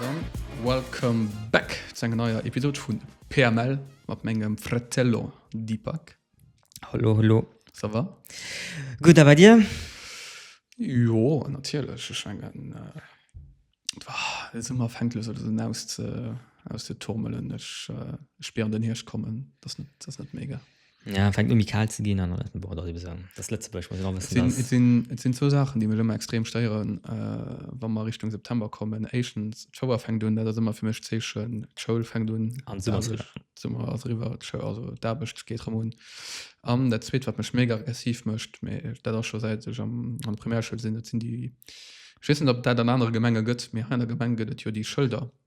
Dann welcome back zu enger neier Episode vu PML mat mengem Fratello Deepak. Hallo, hallo. Ça va? Gut, a bei dir? Jo, natierlech. Ech mengen, et war de Summer fänkt lo sou un aus ze, aus ze turmelen. Ech spieren den Hierscht kommen. Dat ass net, dat ass net mega. Ja, fänkt un méi kal ze ginn an et ass ebe esou, et ass Lëtzebuerg, muss een och wëssen, dass. Et sinn, et sinn zwou Saachen, déi mech ëmmer extrem stéieren, wa mer Richtung September kommen. Éischtens, d'Schouer fänkt un, dat ass ëmmer fir mech d'Zeechen, d'Schoul fänkt un. An d'Summer ass eriwwer. D'Summer ass eriwwer, d'Schou-, also d'Aarbecht geet erëm un. An dat Zweet, wat mech mega aggressiv mécht, mä dat ass scho säit ech am, an der Primärschoul sinn, dat sinn déi, ech weess net, ob et dat an anere Gemenge gëtt, mä hei an der Gemeng gëtt et jo déi Schëlder,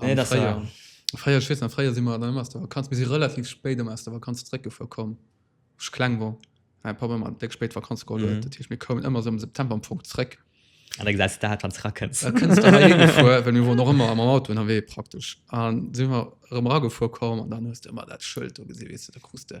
Nee, dat war- Fréier, fréier, ech weess nach, fréier si mer dann ëmmer aus der Vakanz, mir si relativ spéit ëmmer aus der Vakanz zréckgefuer komm, wou ech kleng war. Mäi Papp ëmmer déck spéit Vakanz geholl huet, Mhm. dat heescht mir koumen ëmmer sou am September am Fong zréck. An da gesäis de dat, wann s rakënns. Da kënns du heihin gefuer, well mir woren och ëmmer mam Auto ënnerwee praktesch. An si mer erëm eragefuer komm an dann hues de ëmmer dat Schëld do gesi, weess de, da krus de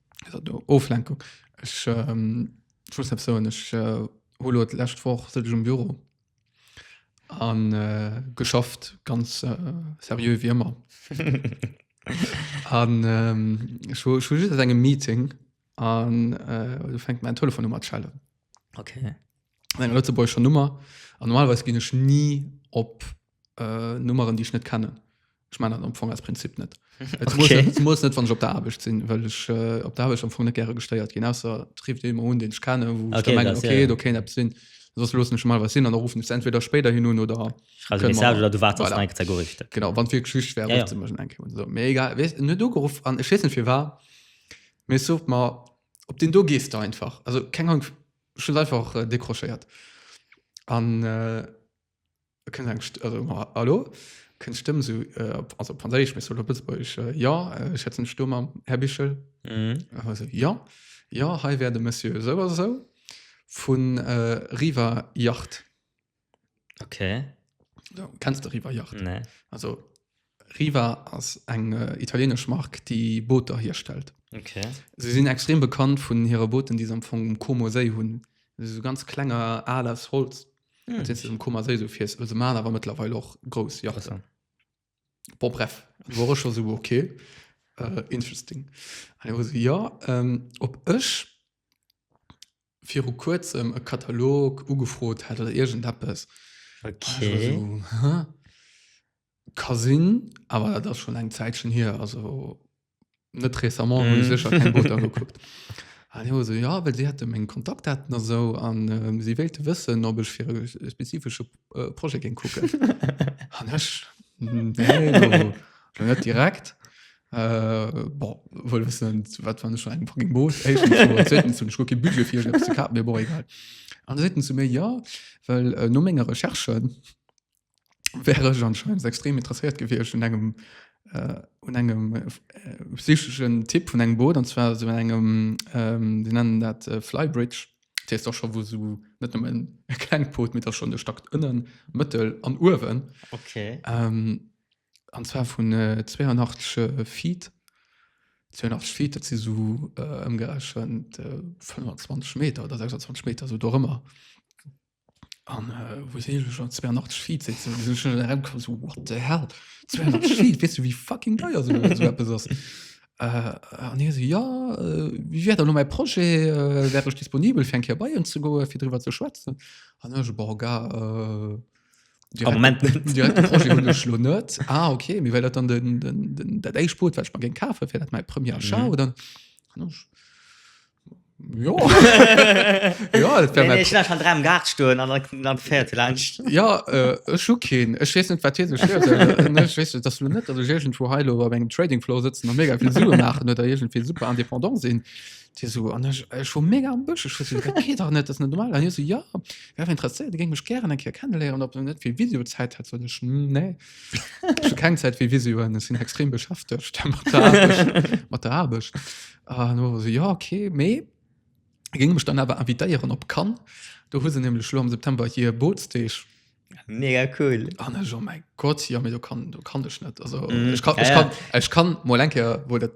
Oflenkung ech soen ech hulo lächt woch si um Büro an äh, geschafft ganz äh, serieux wie immer an ähm, engem Meeting an äh, du fängt mein Telefon um schellen okay. Lëtzeburg schon Nummer an normalweis gin ech nie op äh, Nummeren, déi ech net kennen. Ech mein dat am Fong als Prinzip net. Et muss Okay. net- et muss net wann ech op der Aarbecht sinn, well ech äh, op der Aarbecht am Fong net gäre gestéiert ginn ausser trifft ee mer un, deen ech kennen, wou ech Okay, da mengen, das, ja, okay, ja. do kéint eppes sinn. Soss loossen ech mal was sinn an da ruffen ech se entweder spéider hin un oder Schreibst du Können Message wir- oder du wartest Voilà. voilà. Zagoricht. genau wann fir Geschicht wär Ja, ja, ja. ja. enke so. Mee egal wees net ugeruff an ech wessen fir war mir sucht mal op den do gees da einfach also keng Ahnung schon einfach äh, décrochéiert an äh, kënnt eng St also, ma, hallo? kënnt d'Stëmm esou, äh, op- also op Franséisch, mee se op Lëtzebuergesch, äh, Jo, äh, ech hätt seng Sto mam Här Bichel. Mhm. An hei esou, Jo, jo, hei wär de Monsieur esou a esou vun äh, Riva Yacht. Okay. Kennst de Riva Yacht? Nee. Also. Riva ass eng italienesch Mark, déi Booter hierstellt. Okay. Se sinn extrem bekannt vun hire Booten, déi se am Fong um Como Séi hunn. Dat si sou ganz klenger Al aus Holz, mat deem s de um Comer Séi sou fiers. Se maachen awer mëttlerweil och grouss Yachten. Bon, bref, do war ech scho sou, okay, interesting. An hie war sou, jo, ob ech viru kuerzem e Katalog ugefrot hätt oder iergendeppes. Okay. Ech war so, hä? Ka sinn, awer dat ass schonn eng Zäitchen hier, also net récemment hunn ech sécher keng Booter gekuckt. An hie war so, ja, well si hätte meng Kontaktdaten a sou an si wéilte wëssen, ob ech fir e spezifesche Projet géing kucken. An ech, nee, lo net direkt. Äh, bon, wuel wëssen, zu wat wann ech an engem fucking Boot. Éischtens mol, an zweetens hunn ech guer kee Budget fir iergend eppes ze kafen, mee bon, egal. An da seet en zu mir, jo, well no menger Recherche wär ech anscheinend extrem interesséiert gewiescht un engem, un engem psycheschen Typ vun engem Boot, an zwar esou un engem, déi nennen dat Flybridge, dat heescht da scho wou esou net nëmmen e klengt Boot, mee da schonn de Stack ënnen, mëttel an uewen. Okay. An zwar vun 82 Feet. 82 Feet, dat si sou ëmgerechent 25 Meter oder 26 Meter, sou dorëmmer. An äh, wou si ech an 82 Feet sitzen, wou si ech net erëmkomm, sou what the hell? 82 Feet, weess du wéi fucking deier sou sou eppes ass? Äh, an hie sou, jo, wéi wär dann elo mäi Projet, wär ech disponibel fir eng Kéier bei Iech ze goen, fir driwwer ze schwätzen? An ech, bon, gars, äh. Am Moment net. Direkt den Projet hunn ech lo net. Ah okay, mee well dat dann den, den, den, dat éischt Boot, wat ech mer géing kafen, fir dat mäi Premier Achat, Mhm. oder? Hunn ech, Jo. Jo, dat wär Nee, mäi nee, ich lass an drei am Gaart stoen an dann, dann fährt vielleicht. Ja, äh, ech hu keen. Ech weess net, wat hie sech virstellt. Ech weess, dass lo net, dass ech iergendwo hei lo op engem Trading Floor sëtzen a mega vill Sue maachen oder iergendwéi super indépendant sinn. Dir so, an ech, ech war mega am Bësch, ech wëssen, dat geet dach net, dat ass net normal. An hie so, jo, wär awer interesséiert, e géing mech gären eng Kéier kenneléieren, ob en net fir Visio-Zäit hätt. Sot ech, Hm, nee, ech hu keng Zäit fir Visioen, ech sinn extrem beschäftegt mat der Aarbecht, mat der Aarbecht. An hu mer so, jo, okay, mee e géing mech dann awer invitéieren op Cannes, do hu se nämlech elo am September hir Bootsdeeg. Mega cool. Oh, ne, oh mein Gott, ja, mir, du kann, du kann ich net. Also, mm, ich kann, ja, ich kann, ja. ich kann mal enke, wo dat,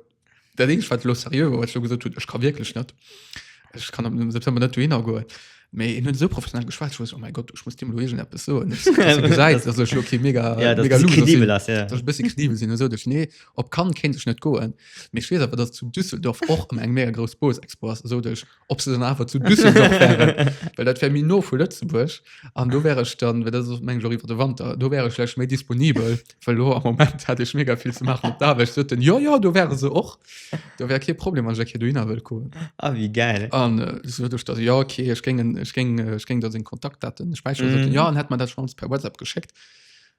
der Ding, wat lo serieux, wat du gesagt hast, ich kann wirklich net. Ich kann am September net duhin goen. Mais ich hun so professionell geschwat, ich wusste, oh mein Gott, ich muss dem Luigen etwas so. Ich gesagt, also, ich lo, okay, mega, ja, mega loose. Kredibel hast, ja. Dass ich bisschen kredibel sind, so, dass, nee, ob kann, kennt ich net goen. Mir schwer, aber das zu Düsseldorf auch um eng mega groß Bose Expo, so, dass ob se dann awer zu Düsseldorf wären, well dat wär méi no vu Lëtzebuerg an do wär ech dann, well dat ass meng Jour iwwer de Wanter, do wär ech vläicht méi disponibel, well lo am Moment hätt ech mega vill ze maachen op der Aarbecht. Sot en, Jo, jo, do wäre se och, do wär kee Problem, wann ech eng Kéier dohinner wëllt goen. Ah, wéi gäil. An äh, sot ech dann, Jo, okay, ech géing, en- ech géing, äh, ech géing da seng Kontaktdaten späicheren. Sot en, Mhm. Jo, en hätt mer dat schonns per WhatsApp geschéckt.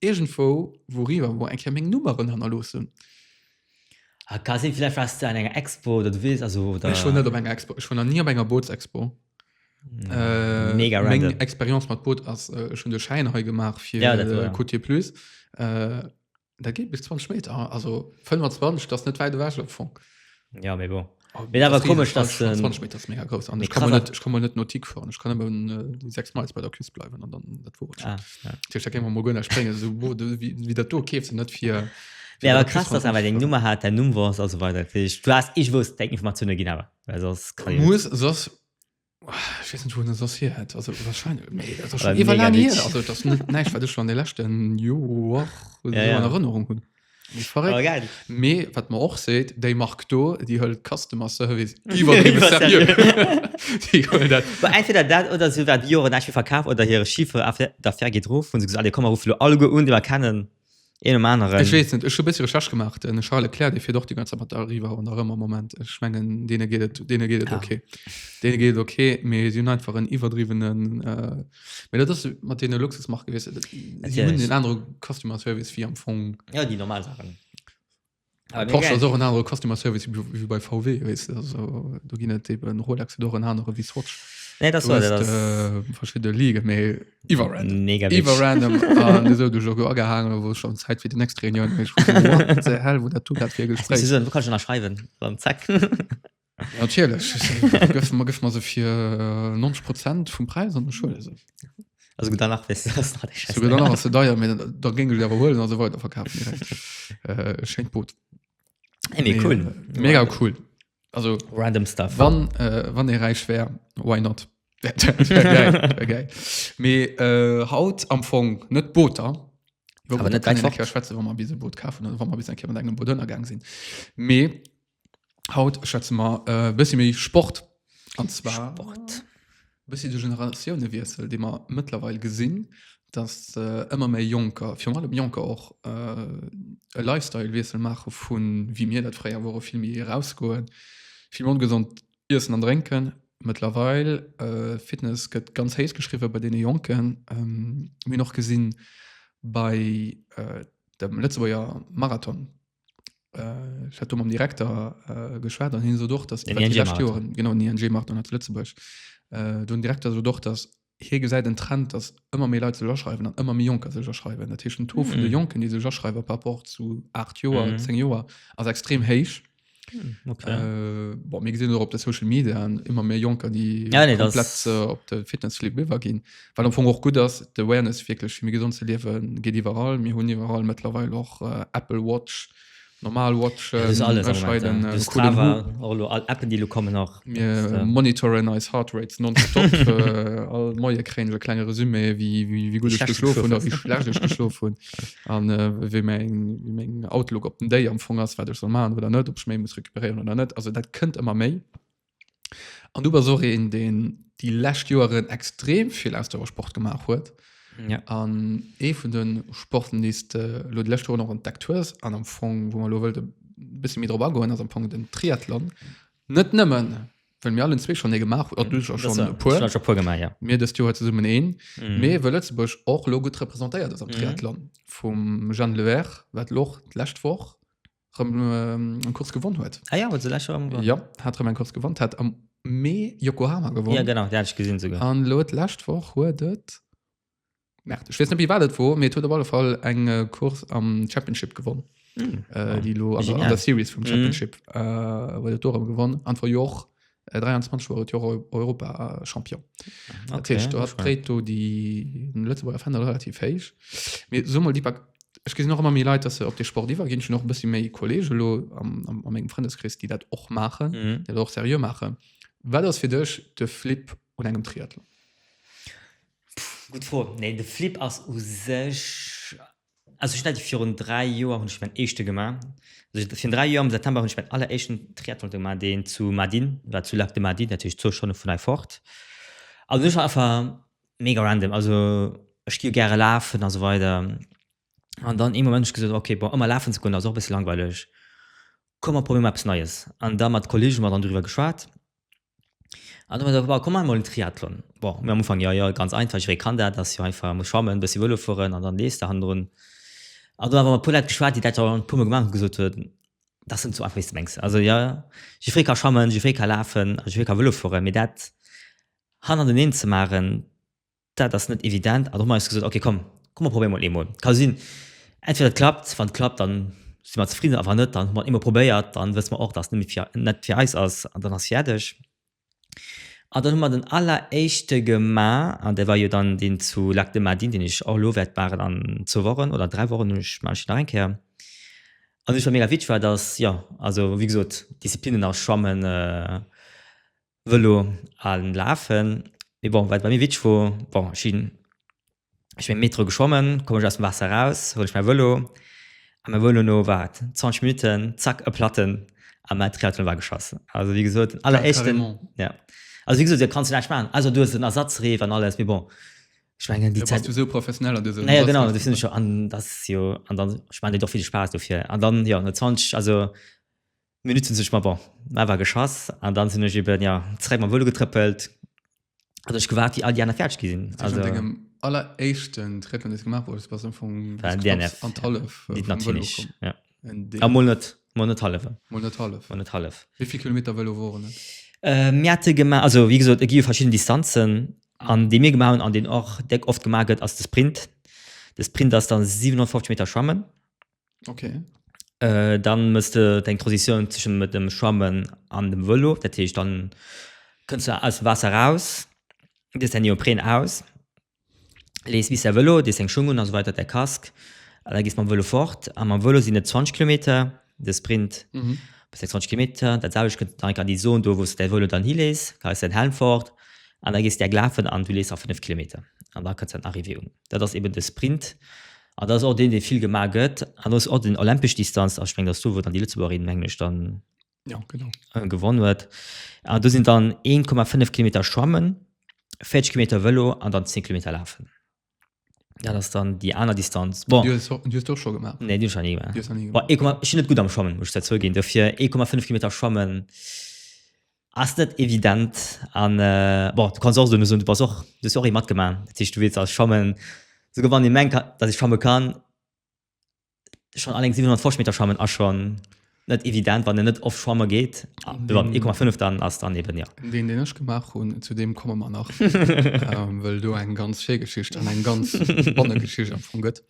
Iergendwou wouriwwer mol eng Kéier meng Nummeren hannerloossen. Ah ka sinn, villäicht waars de an enger Expo oder du weess, also oder. Ech wor net op enger Expo, ech wor nach ni op enger Bootsexpo. Mega random. Meng Expérience mat Boot ass, ech hunn de Schäin hei gemaach fir Ja, dat war ja. Côtier Plus. Dat geet bis 20 Meter, also 25, dat ass net wäit ewech am Fong. Ja, mee bon. Oh, Mir awer komesch dat ze 20 Meter mega groß an ich komme net ich komme net Notik vor ich kann äh, die sechs Mal bei der Küst bleiben an dann dat wo ah, ja. mo gënner springen so, wo, wie, wie dat do keef ze net fir Ja, aber krass, dass aber den Nummer hat, der Nummer war, also weiter. Du hast, ich wusste, denke ich mal zu einer Ginawa. Weil sonst kann ich. Muss, sonst Ich weiß nicht, wo das das hier hat. Also wahrscheinlich, nee, das ist schon äh, lange her. Also das nicht, nein, ich war das schon in den letzten Jahren ja, so ja. in Erinnerung. Haben. Verrekt. Me wat man och seet, déi mag do déi hëll Customer Service Entweder dat oder se wat Joren verkaaf oder hire Schiffer der Fer gedro vun se alle kommmer ruflo all go un, deiwer kennen Een um aneren. Ech weess net, ech hu bëssi Recherche gemacht. Den Charles Leclerc, dee fiert och déi ganz Zäit mat der Arriva an der Rëm am Moment. Ech mengen, deene geet et, deene geet et Ja. okay. Deene geet et okay, mee si hunn einfach en iwwerdriwwenen. Äh, mee dat ass mat deene Luxusmarke, weess de, si hunn Natierlech. en anere Customer Service wéi am Fong. Ja, déi normal Saachen. Ah, nee, Porsche geil. ass och en anere Customer Service wie bei- wie bei VW wees du also do ginn et eben Rolex et och en anere wie Swatch Nee, das Du war hast, das. äh, verschidde Ligen méi iwwer random Mega iwwer witzig. random an du sou du jo go agehaangen wou schon Zäit fir die nächst Reunion méi hell wo dat du grad fir Gespräch Wieso, du kannst schon nach schreiben. Beim Zack. Natierlech gëff mer gëff mer se fir 90 Prozent vum Präis an der Schule se. Also gut danach wis se deier da géng du awer huelen also weiter verkaf äh, schenkt Boot. Hey, nee, cool. Äh, mega cool. Also random stuff. Wann äh, wann e räich wär, why not? Me äh, haut am Fong net Booter Schweze bis Boot ka engem Boot ënnergang sinn. Mee Haut schätze mer e äh, bëssi méi Sport. An zwar Sport. bëssi de Generatiounewiessel, dee mer mëttlerweil gesinn, dass ëmmer äh, méi Jonker, virun allem Jonker och äh, e Lifestyle-Wiessel maache vu wéi mir dat fréier wore, vill méi erausgoen, vill méi ongesond iessen an drénken. Mëttlerweil äh, Fitness gëtt ganz héich geschriwwe bei deene Jonken. Ähm, mir hunn och gesinn bei äh, dem Lëtzebuerger Marathon, äh, ich hatte mam Direktor äh, geschwert an hin so doch dass den Joren genau ING macht und Lützeburg äh, du Direktor so doch dass hier ge seid den Trend dass immer mehr Leute schreiben dann immer mehr Junker sich schreiben der Tisch to mhm. Jonken die sich schreiben paar Wochen zu acht Jo mhm. zehn Jahre also extrem heisch hm, Okay. Äh, bon, mir gesinn op der Social Media an immer méi Jonker, die ja, nee, komplett, das... äh, op de Fitnessliwwer ginn. Wat am Fong och gutt ass, d'Awareness wierklech fir méi gesond ze liewen geet iwwerall. Mir hunn iwwerall mëttlerweil och Apple Watch, normal Watchen, ech hei den coolen Who. Et ass alles am Moment, ja. Strava, och elo all Appen, déi elo kommen och. Mir monitoren eis Heart Rate nonstop. All Moie kréien ech e klenge Resumé, wéi gutt ech geschlof hunn a wéi schlecht ech geschlof hunn an wéi meng Outlook op den Day am Fong ass, wat ech soll maachen oder net, ob ech méi muss recuperéieren oder net. Also dat kënnt ëmmer méi. An du bass och een, deen déi lescht Joeren extrem vill Ausdauersport gemaach huet. Ja. An ee vun de Sporten, déi du lo déi lescht Joeren och entdeckt hues, an am Fong, wou mer lo wëllt e bësse méi drop agoen, ass am Fong den Triathlon. Net nëmmen, well mir allen zwee schonn ee gemaach oder du schonn e puer. Ech hunn scho puer gemaach, ja. Mir dëst Joer zesummen een. Mhm. Mee wëll Lëtzebuerg och lo gutt representéiert ass am Triathlon. Vum Jeanne Lehair, wat lo och d'lescht Woch rem, ähm, kurz gewonnen huet ah, ja, so ja, hat rem, kurz gewonnen hat am Mee Yokohama gewonnen ja, genau, ja, gesehen, an lo lascht woch huet et ich weiß nicht wie war dat wo mir tut alle Fall eng äh, Kurs am Championship gewonnen mm. äh, die lo also an der Series vom mhm. Championship mm. äh, gewonnen an vor Joch 23 war et jo Eu- Europa-Champion. Dat Okay, heescht, do hat gefreit. Preto déi den Lëtzeburger Fender relativ héich. Mir so mal déi Bak Ech gesinn och ëmmer méi Leit, dass se op de Sport iwwerginn. Ech hunn och e bëssi méi Kollege lo am am a mengem Frëndeskrees, déi dat och maachen, Mhm. déi dat och seriö maachen. Wat ass fir dech de Flip un engem Triathlon? Gutt Fro. Nee, de Flip ass u sech Also ech net virun 3 Joer hunn ech mäin éischte gemaach. Also virun 3 Joer am September hunn ech mäin alleréischten Triathlon gemaach, deen zu Mardin war, zu Lac de Mardin, natierlech zwou Stonne vun hei fort. Also ech war einfach mega random, also ech gi jo gäre lafen a sou weider an dann ee Moment hunn ech gesot, ok bon ëmmer lafen ze goen ass och e bësse langweileg, komm mer probéiere mer eppes Neies. An da mat Kollege mat an driwwer geschwat An du meinst, komm maache mol en Triathlon. Bon, mir am Ufank, jo, jo, ganz einfach, jidderee kann dat, ass jo einfach, muss schwammen, e bëssi Vëlo fueren an dann lees de hannendrun. An do hu mer mat e puer Leit geschwat, déi dat jo e puermol gemaach hunn, gesot hunn, dat ass net esou einfach, wéi s de mengs. Also jo, jidderee ka schwammen, jidderee ka lafen, jidderee ka Vëlo fueren, mee dat hannerteneen ze maachen, Dat ass net evident, an da hu mer eis gesot, ok komm, komm mer probéiere mol eemol. Ka sinn, entweder et klappt, wann et klappt, dann si mer zefridden, a wann net, dann hu mer et eemol probéiert, dann wësse mer och, dass et net fir eis ass, an dann ass fäerdeg. An dann hu mer den alleréischte gemaach, an dat war jo dann deen zu Lac de Madine, deen ech och elo wäert maachen an zwou Wochen oder an dräi Wochen, ech maachen ech nach eng Kéier. An wat mega witzeg war, dass, jo, also wéi gesot, Disziplinnen ass Schwammen, Vëlo a lafen. Mee bon, wat bei mir witzeg wor, bon ech sinn, ech sinn am Metro geschwommen, komm ech aus dem Waasser raus, huel ech mäi Vëlo a mäi Vëlo no wat 20 Minutten, zack e Platten a mäi Triathlon war geschoss. Also wéi gesot den alleréischten, jo, also wéi gesot do kanns de näischt maachen, ausser du hues en Ersatzreef an alles, mee bon ech mengen déi Zäit, naja genau do sinn ech jo an dat ass jo, an dann ech mengen et huet och vill Spaass dofir an dann jo no 20, also. Minutten sech, ma bon, mä war geschass. An dann sinn ech eben, jo, zeréck mam Vëlo getrëppelt, an ech gewaart, wéi all déi aner fäerdeg gi sinn. Also. An dengem alleréischten Triathlon, deen s de gemaach hues, bass du am Fong bis knapps an d'Hallef vum Vëlo komm. Ja. A mol net, mol net hallef. Mol net hallef. Mol net hallef. Wéi vill Kilometer Vëlo woren et? Mir hate gemaach, also wéi gesot, et gi jo verschidden Distanzen. An dee mir gemaach hunn, an deen och déck oft gemaach gëtt, ass de Sprint. De Sprint ass da 750 Meter schwammen. Okay. Äh, dann mësst du deng Transition zwischen mit dem Schwammen an dem Velo. Dat heescht, dann kënns du aus dem Waasser raus, dees dein Neopren aus, lees bis dein Velo, dees deng Schung un a sou weider, däi Casque, an da gees mam Velo fort. A mam Velo sinn et 20 Kilometer, de Sprint, bis 26 Kilometer. Dat selwecht kënns du dann an déi Zone do, wou s du däi Velo dann hilees, leis däin Helm fort an da gees du enk lafen an du lees nach 5 Kilometer an da kënns du an den Arrivée un. Dat ass eben de Sprint, An dat ass och deen, dee vill gemaach gëtt. An ass och den olympesch Distanz aspréngt, ass do, wou dann déi Lëtzebuergerin, mengen ech, dann gewonn huet. An do sinn dann 1,5 Kilometer schwammen, 40 Kilometer Vëlo an dann 10 Kilometer lafen. Dat ass dann déi aner Distanz. Bon. Du hues dee och scho gemaach? Nee, dee hu ech nach ni gemaach. Ech sinn net gutt am Schwammen, muss ech zwar zouginn. Dofir 1,5 Kilometer schwammen. Ass net evident an bon du kanns och soen du bass och, du hues jo och ee matgemaach, dat heescht du weess als schwammen, esouguer wann ee mengt datt ee schwamme kann, schonn alleng 750 Meter schwammen ass schonn net evident wann een net oft schwamme geet, mee mat 1,5 dann ass dann eben jo. Deen deen ech gemaach hunn, zu deem komme mer nach well do eng ganz schéi Geschicht an eng ganz spannend Geschicht am Fong gëtt.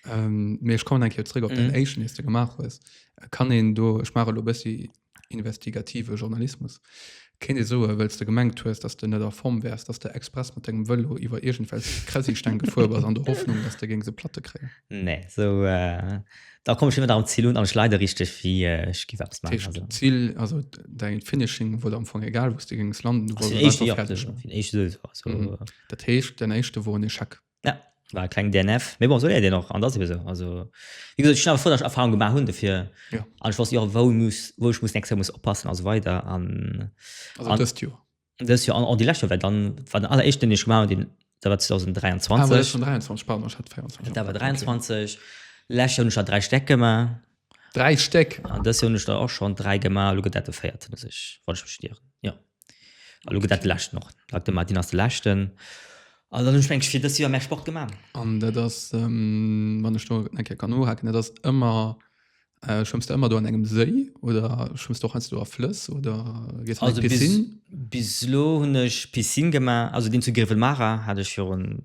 Mee ech kommen eng Kéier zréck op deen éischten dees de gemaach hues. Kann een do, ech maache elo e bëssi investigative Journalismus, kéint ee soen, wéil's de gemengt hues, dass de net a Form wäers, dass de express mat dengem Vëlo iwwer iergendwelch Kräsisteng gefuer bass, an der Hoffnung, dass de géings e Platte kréien. Nee, esou, da komm ech net am Zil un, an ech leide richteg, wéi ech géif eppes maachen. Dat heescht, d'Zil, also däi Finishing, wor der am Fong egal, wou s de géings landen, du wolls einfach fäerdeg ginn. Dat heescht, däin éischte wor en Echec? Ja, war e kleng DNF. Mee bon, esou léiert een och an dat ass ebe sou. Also, wéi gesot, ech sinn awer frou, datt ech Erfarung gemaach hunn dofir Ja. an ech wosst jo och, wou ech muss, wou ech muss nächst Joer muss oppassen a sou weider an Also An- dëst Joer. dëst Joer an och déi lescht Joer, well dann war den alleréischten, deen ech gemaach hunn, deen, dat war Ah, war dat 2023. schonn 23? Pardon, ech hat 24 Dat war 23. Lescht Joer hunn ech der dräi Stäck gemaach. 3 Stéck! An dës Joer hunn ech der och schonn 3 gemaach a lo gëtt dat de véierten, wann ech mech net ieren. Jo. A lo gëtt dat de leschten och. Lac de Martin ass de leschten. An dann hunn ech mengen ech fir dës Joer méi Sport gemaach. An dat ass, wann ech do eng Kéier kann nohaken, dat ass ëmmer, schwëmms de ëmmer do an engem Séi oder schwëmms de och heiansdo a Flëss oder gees an d'Piscine? Also bis elo hunn ech Piscine gemaach. Also deen zu Grevenmacher hat ech virun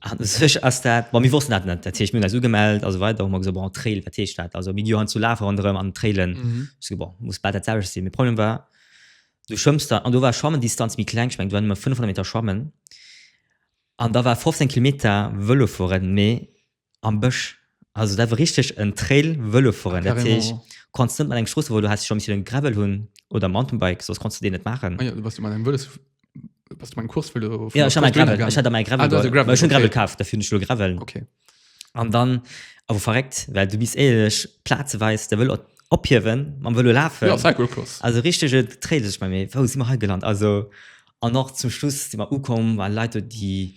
An sech ass dat, bon, mir wossten dat net. Dat heescht, mir hunn eis ugemellt a sou weider. Hu mer gesot, bon, Trail, wat heescht dat? Also mir gi jo heiansdo lafe ronderëm an Trailen. Mhm. Ech so, bon, muss bal dat selwecht sinn. Mee Problem war, du schwëmms da, an do war Schwammendistanz méi kleng, ech mengen, do war nëmme 500 Meter schwammen. An da war 15 Kilometer Vëlo fueren, mee Am Bësch. Also dat war richteg en Trail Vëlofueren. Dat heescht, Carrément. du konns net mat engem Stroossevëlo, häss scho missten en Gravel hunn oder Mountainbike, soss konns du deen net maachen. Ah jo, du bass jo mat engem Vëlos, bass du mat engem Kursvëlo vun Ja, der ech hat mer Strooss en Gravel, dohinner ech hat mer e gaangen. Ah, du Gravel hast e geholl, Gravel, well ech hunn e Gravel okay. kaf, dofir hunn ech elo e Gravel. Okay. An dann awer verréckt, well du misst éierlech plazeweis de Vëlo ophiewen, mam Vëlo lafen. Jo, Cyclocross. Also richtege Trail, sot ech mer, mee wou si mer hei gelant? Also An och zum Schluss si mer ukomm, waren Leit do, déi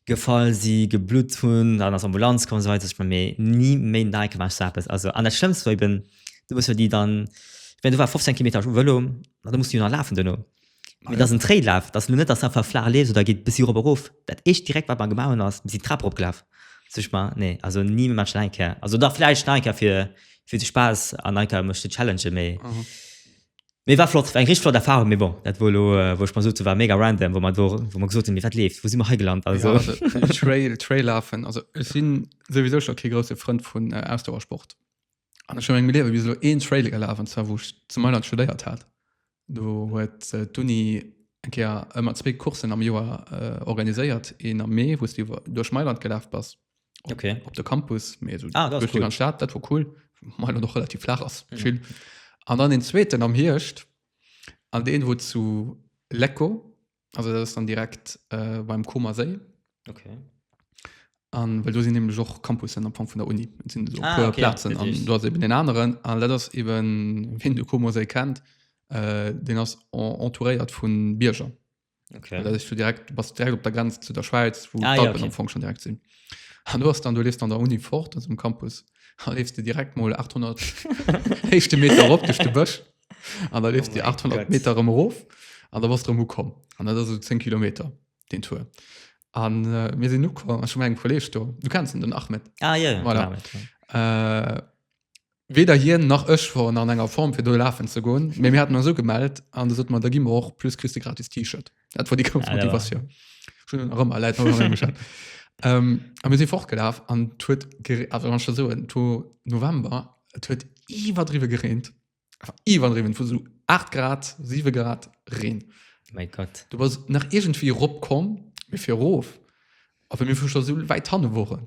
gefall si, geblutt hunn, dann ass Ambulanz komm an esou weider. Ech menge mir ni méi Neikenaasch sou eppes. Also an dat schlëmmst war eben, du muss jo déi dann, ech meng do war 15 Kilometer u Vëlo, an da muss de jo nach lafen duerno. Mee et ass en Traillaf, et ass elo net, datt s de einfach flaach leefs oder geet e bëssi erop erof. Dat éischt direkt wat mer gemaach hunn ass, mir sinn d'Trap eropgelaf. Sot ech mer, nee, also ni méi, maache ech nach eng Kéier. Also dach vläicht nach eng Kéier fir fir de Spaass an nach eng Kéier mech ze challengen, mee Mee war flott, war eng richteg flott Erfahrung, mee bon, dat wor elo wou ech mer sot, se war mega random wou mer do, wou mer gesot hunn, mee wat leeft, wou si mer hei gelant, also. Trail, Trail lafen, also ech si souwisou scho kee grousse Frënd vun Ausdauersport an ech hu a mengem Liewe bis elo een Trail gelaf an zwar wou ech zu Mailand studéiert hat, do huet d'Uni eng Kéier ëmmer zwee Coursen am Joer organiséiert, een am Mee wou s du iwwer duerch Mailand gelaf bass okay. op de Campus mee so ah, cool. an Staat dat war cool mal noch relativ flach ass mhm. chill an dann den zweeten am Hirscht an den wo zu Lecko also das dann direkt äh, beim Koma se okay an weil du sie nämlich auch Campus am Anfang von der Uni sind so ah, okay, Platzen ja, an du hast eben den anderen an das eben wenn du Koma se kennt äh, den hast entouriert von Bierger Okay. Dat du direkt bas direkt op der Grenz zu der Schweiz wo ah, ja, okay. Fong schon direkt sinn. An du hast dann du lest an der Uni fort aus dem Campus ha lest du direkt mal 800 hechte Meter op de Bësch an der lest oh die 800 God. Meter im Rof an der was drum kom an der so 10 Ki den Tour. An äh, mir sinn nu schon eng Kolleg do. Du kennst den Ahmed. Ah, ja, ja, voilà. Ahmed, ja. Äh, Weder hien nach ech woren an enger Form fir do lafen ze goen, mee mir haten eis ugemellt an da sot mer, da gi mer och, plus kriss de gratis T-Shirt. Dat wor déi grouss Ja, dat war- Motivatioun. Ech hunn en nach ëmmer, läit nach ëmmer heemech. Ehm, a mir si fortgelaf an et huet gere-, also wann ech der soen, et wor November, et huet iwwerdriwwe gereent, einfach iwwerdriwwen, et wor esou 8 Grad, 7 Grad Reen. Mäi Gott. Du bass nach iergendwéi eropkomm, mee fir erof, a wéi mir vu scho esou wäit hanne woren,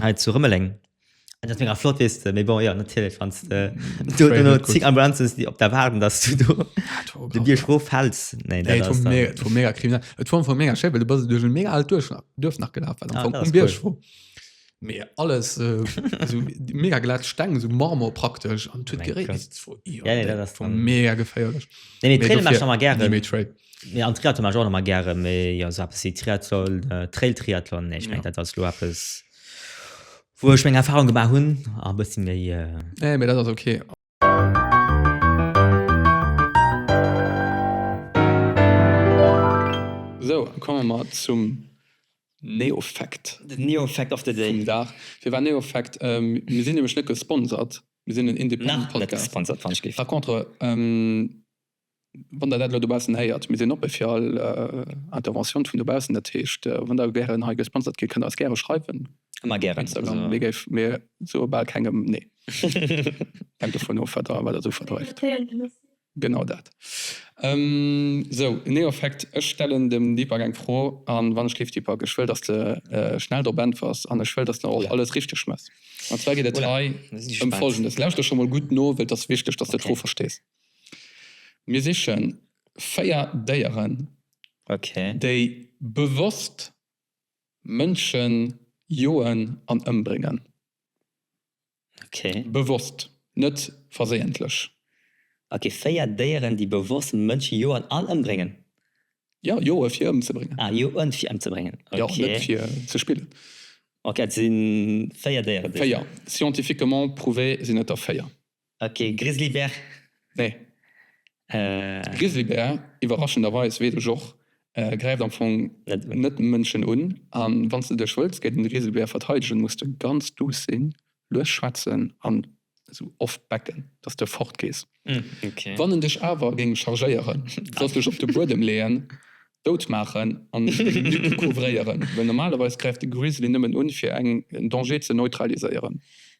hei zu Rëmeleng. Dat wär flott wees de méi bon jo natierlech wann zing Ambulances déi op der waarden dass du do de Bier schro fäls ne vu mega kriminell Et vu vu mega Schäppe du bas duerch mega alt duerch nach duerf nach gelaf Bier schro mé alles mega glat steng so marmor praktesch an tut geré vu mega geféierlech. Nee an Triathlon mach ech och nach mei gären, mee jo esou eppes wéi Triathlon, Trail Triathlon, nee ech mengen dat ass lo eppes wou ech meng Erfahrung gemaach hunn a e bëssi méi. Nee mee dat ass ok. Sou komme mer zum NeoFact. Den NeoFact of the day. Vum Dag. Firwat NeoFact? Mir sinn nämlech net gesponsert, mir sinn en independent Podcast. Nach net gesponsert wann ech géif. Par contre. Wann Der dat elo dobaussen héiert, mir sinn oppe fir all Interventioun vun dobaussen. Dat heescht, wann Der gären hei gesponsert gitt, kënnt Der eis gäre schreiwen. Ëmmer gären. Instagram, mir géif, mir soe bal kengem nee. Hänkt dovun of, wat Der, wat Der esou verdreift. Genau dat. Sou, Neoeffekt, ech stellen dem Deepak eng Fro, a wann ech géif, Deepak, ech wëll, dass de schnell drop äntwers, an ech wëll, dass de och alles richteg mess. An zwar geet et hei ëm Folgendes, lauschter scho mol gutt no, wëll et ass wichteg, dass de d'Fro verstees. Mir sichen 4 Déieren, déi bewosst Mënschen joen an ëmbréngen. Bewosst, net verséientlech. Ok, 4 Déieren, déi bewosst Mënschen joen an ëmbréngen. Jo, joe fir ëmzebréngen. Ah, joen fir ëmzebréngen. Ok. Jo, net fir ze spillen. Ok, et sinn 4 Déieren. 4, scientifiquement prouvé sinn et der 4. Ok, Grizzlybär, nee. De Grizzlybär, iwwerraschenderweis, weess ech och, gräift am Fong net Mënschen un. A wann s de dech wëlls géint en Grizzlybär verteidegen, muss de ganz duuss sinn, lues schwätzen an esou oft becken, dass de fortgees. Wann en dech awer géing chargéieren, solls dech op de Buedem leeën, dout maachen an d'Lücken couvréieren, well normalerweis gräift de Grizzly nëmmen un, fir en Danger ze neutraliséieren.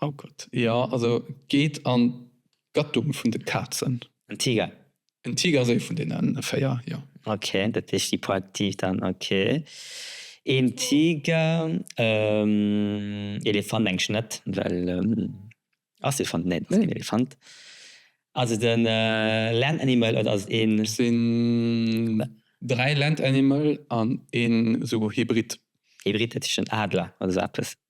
Oh Gott, jo, also geet an d'Gattung vun de Kazen. En Tiger. En Tiger ass ee vun deene véier, jo. Ok, dat heescht hyperaktiv dann, ok. Een Tiger, Elefant mengen ech net, well ass Elefant, nee, ass keen Elefant. Ass et en Land Animal oder ass et een. Et sinn dräi Land Animal an een esou Hybrid. Hybrid, dat heescht en Adler oder esou eppes.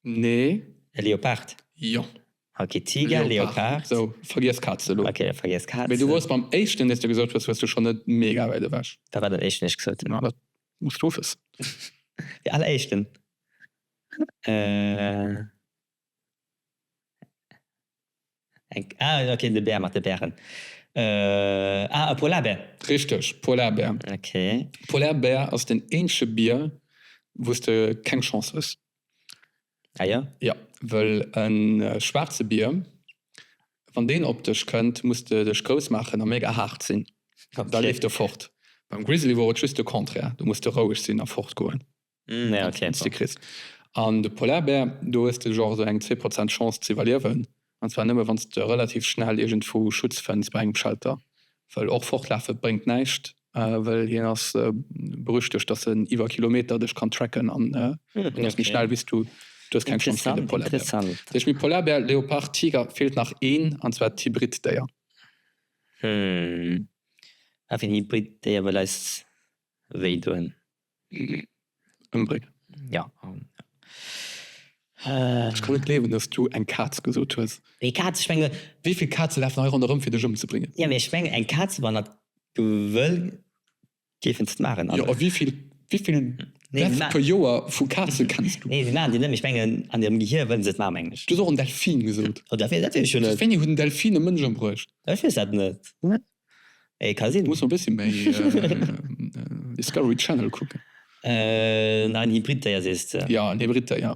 Nee. E Leopard? Jo. Ok, Tiger, Leopard. Sou, vergiess Kaz elo. Ok, da vergiess Kaz. Mee du wors beim éischten, deen s de gesot hues, wors du schonn net mega wäit ewech. Wat war den éischten, deen ech gesot hunn? Ma, dat muss du wëssen. De alleréischten? Eng, ah jo, okay, de Bär mat de Bären. Ah, e Polarbär. Richteg, Polarbär. Okay. Polarbär ass den eenzege Bier, wou s de keng Chance hues. Ah jo? Jo, wëll e schwaarze Bier, wann deen op dech kënnt, muss de dech grouss maachen a mega haart sinn, da leeft e fort. Beim Grizzly wor et just de Contraire, do muss de roueg sinn a fortgoen. Mm, ja, okay. Wann's du kriss. An de Polarbär, do hues de genre esou eng zwee Prozent Chance ze iwwerliewen, an zwar nëmme wann s de relativ schnell iergendwou Schutz fënns bei engem Shelter, well och fortlafe bréngt näischt, well hien ass berüchtegt, dass en iwwer Kilometer dech kann tracken an en ass méi schnell wéi s du. Du hues keng Chance géint de Polarbär. Interessant. Duerch méi Polarbär, Leopard, Tiger feelt nach een, an zwar d'Hybrid-Déier. Hm, a fir en Hybrid-Déier well eis wéi doen? ëmbréngen. Jo, an ech kann net gleewen dass du eng Kaz gesot hues. Eng Kaz, ech menge. Wéivill Kaze lafen hei ronderëm fir dech ëmzebréngen? Jo, mee ech menge eng Kaz, wann dat gewëll géifen se et maachen. Jo, a wéivill Death per Joer vu Kaze kenns du? Nee, se maachen déi net, mee ech mengen an hirem Gehier wëllen se et maachen, mengen ech. Du hues och en Delfin gesot. Oh, dat wéi dat wéi ech jo net. Wéini huet en Delfin e Mënsch ëmbruecht? Ech weess dat net. Du muss e bëssi méi Discovery Channel kucken. An en Hybrid-Déier sees de? Jo, en Hybrid-Déier.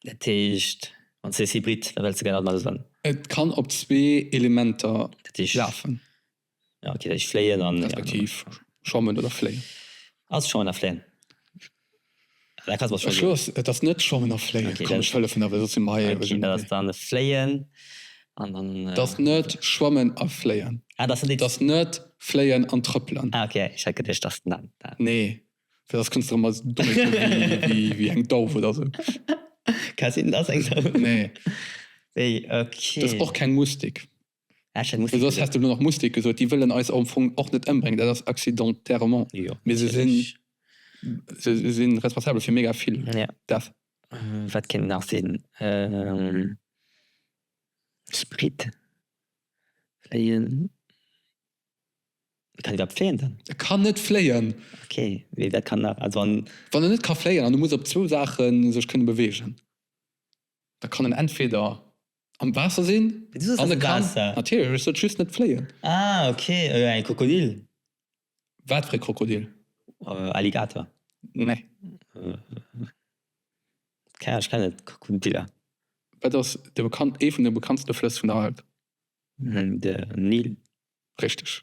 Dat heescht, wann s de sees Hybrid, da wëlls de gären alt mat e soen? Et kann op zwee Elementer lafen. Respektiv schwammen oder fléien. Ass schwammen a fléien. Schluss, et ass net Schwammen a Fléien. Komm, ech hëllefen der, well soss sinn mer hei eeweg ënnerwee. Dat ass dann Fléien an dann. Et ass net Schwammen a Fléien. Ah, dat ass net. Et ass net Fléien an Trëppelen. Ah, ok, ech hat geduecht, et ass dann dat. Nee, fir dass kënns de erëm als domm virkomme wéi eng Dauf oder sou. Ka sinn, et ass eng Dauf. Nee. Wéi, ok. Et ass och keng Mustik. Soss häss de elo nach Mustik gesot. Déi wëllen eis am Fong och net ëmbréngen, dat ass accidenterement, mee se sinn, se sinn responsabel fir mega vill Death. Wat kéint nach sinn? Sprit, fléien? Kann iwwerhaapt fléien dann? E kann net fléien. Ok, mee wat kann nach, also an. Wann en net ka fléien an e muss op zwou Saache sech kënne beweegen, da kann en entweder Am Waasser sinn an e kann. Natierlech, ech sot just net fléien. Ah ok, e Krokodil. Wat fir e Krokodil? Alligator. Nee. Keng Ahnung, ech kennen net Krokodiller. Wat ass ee vun de bekanntste Flëss vun der Welt? De Nil. Richteg.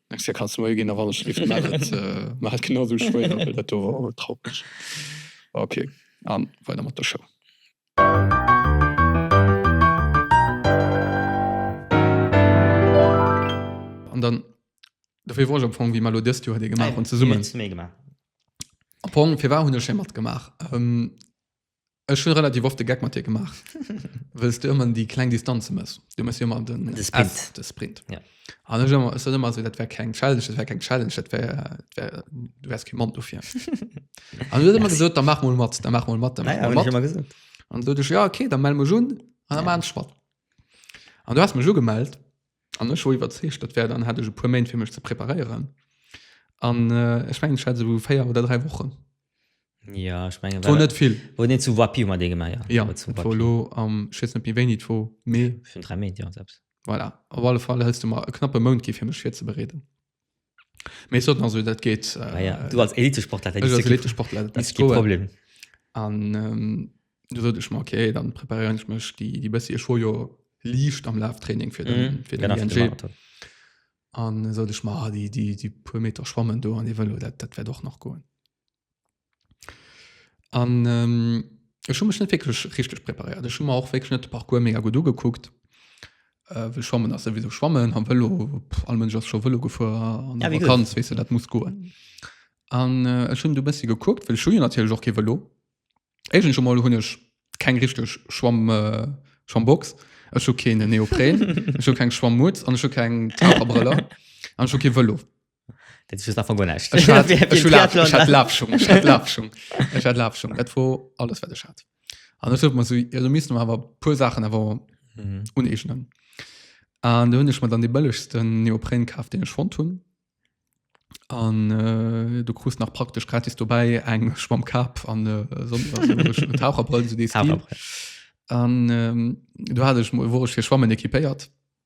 Merci da kanns de moie gin a wann ech lift maach et maach et genau esou schwéier well dat do war awer traureg ok an weider mat der Show. An dann dofir wor ech am Fong wéi mer lo dëst Joer dee gemaach hunn zesummen. Am Fong firwar hunn ech hei matgemaach? Ech hun relativ oft de Geck mat dir gemaach wëlls du ëmmer déi kleng Distanze mëss. Du mëss jo ëmmer den De Sprint. F, de Sprint. Ja. An ech ëmmer ech sot ëmmer esou dat wär keng Challenge, dat wär keng Challenge, dat wär dat wär du wärs kee Mann dofir. An du hues ëmmer gesot, da mach mol mat, da mach mol mat, da mach Naja, mol hun ech mat. ëmmer gesot. An sot ech ja okay, da mell mech un an da Ja. maan ech mat. An du has mech ugemellt An ech wor iwwerzeegt, dat wär dann, hat ech e puer Méint fir mech ze preparéieren. An ech mengen, ech hat esou 4 oder 3 Wochen. Ja, ech mengen, et wor net vill. Wor net zu Wapiw mat dee gemaach? Ja, ja et wor elo am, ech weess net méi wéini et wor, mee. Virun 3 Méint, jo, selbst. Voilà, op alle Fall häls du mer e knappe Mount gi fir mech virzebereeden. Mee soten also dat geet ah, ja. du als Elitesportler als Elitesportler Problem an ähm, du sollte ich mal okay dann präparieren ich mich die die beste schon jo liefst am Lauftraining für den, mhm. für den ING an sollte ich mal ah, die die die paar Meter schwammen du an die Velo dat, dat wäre doch noch gut An ech hu mech net wécklech richteg preparéiert. Ech hu mer och wécklech net de Parcours mega gutt ugekuckt. Well schwammen ass souwisou schwammen, am Vëlo, pff, all Mënsch ass scho Vëlo gefuer an Ja, der wie gesagt. Vakanz, weess du, dat muss goen. An äh, ech hunn du e bëssi gekuckt, well ech hu jo natierlech och kee Vëlo. Éischtens emol hunn ech keng richteg Schwamm, äh, Schwammbox, ech hu keen Neopren, ech hu keng Schwammmutt an ech hu keng Taucherbrëller an ech hu kee Vëlo. Dat ass einfach guer näischt. Ech hat, ech hu Laf, ech hat Lafschung, ech hat Lafschung, ech hat Lafschung. Dat war alles, wat ech hat. An ech sollt mer so, ja, du misst mer awer puer Sachen awer mhm. uneegnen. An du hunn ech mat an de bëllegsten Neopren kaaf, den ech fond hunn. An äh, du krust nach praktesch gratis dobäi eng Schwamm Kap an äh, so, so, Taucherbrëll so An ähm, du hat ech wurech fir Schwammen ekipéiert.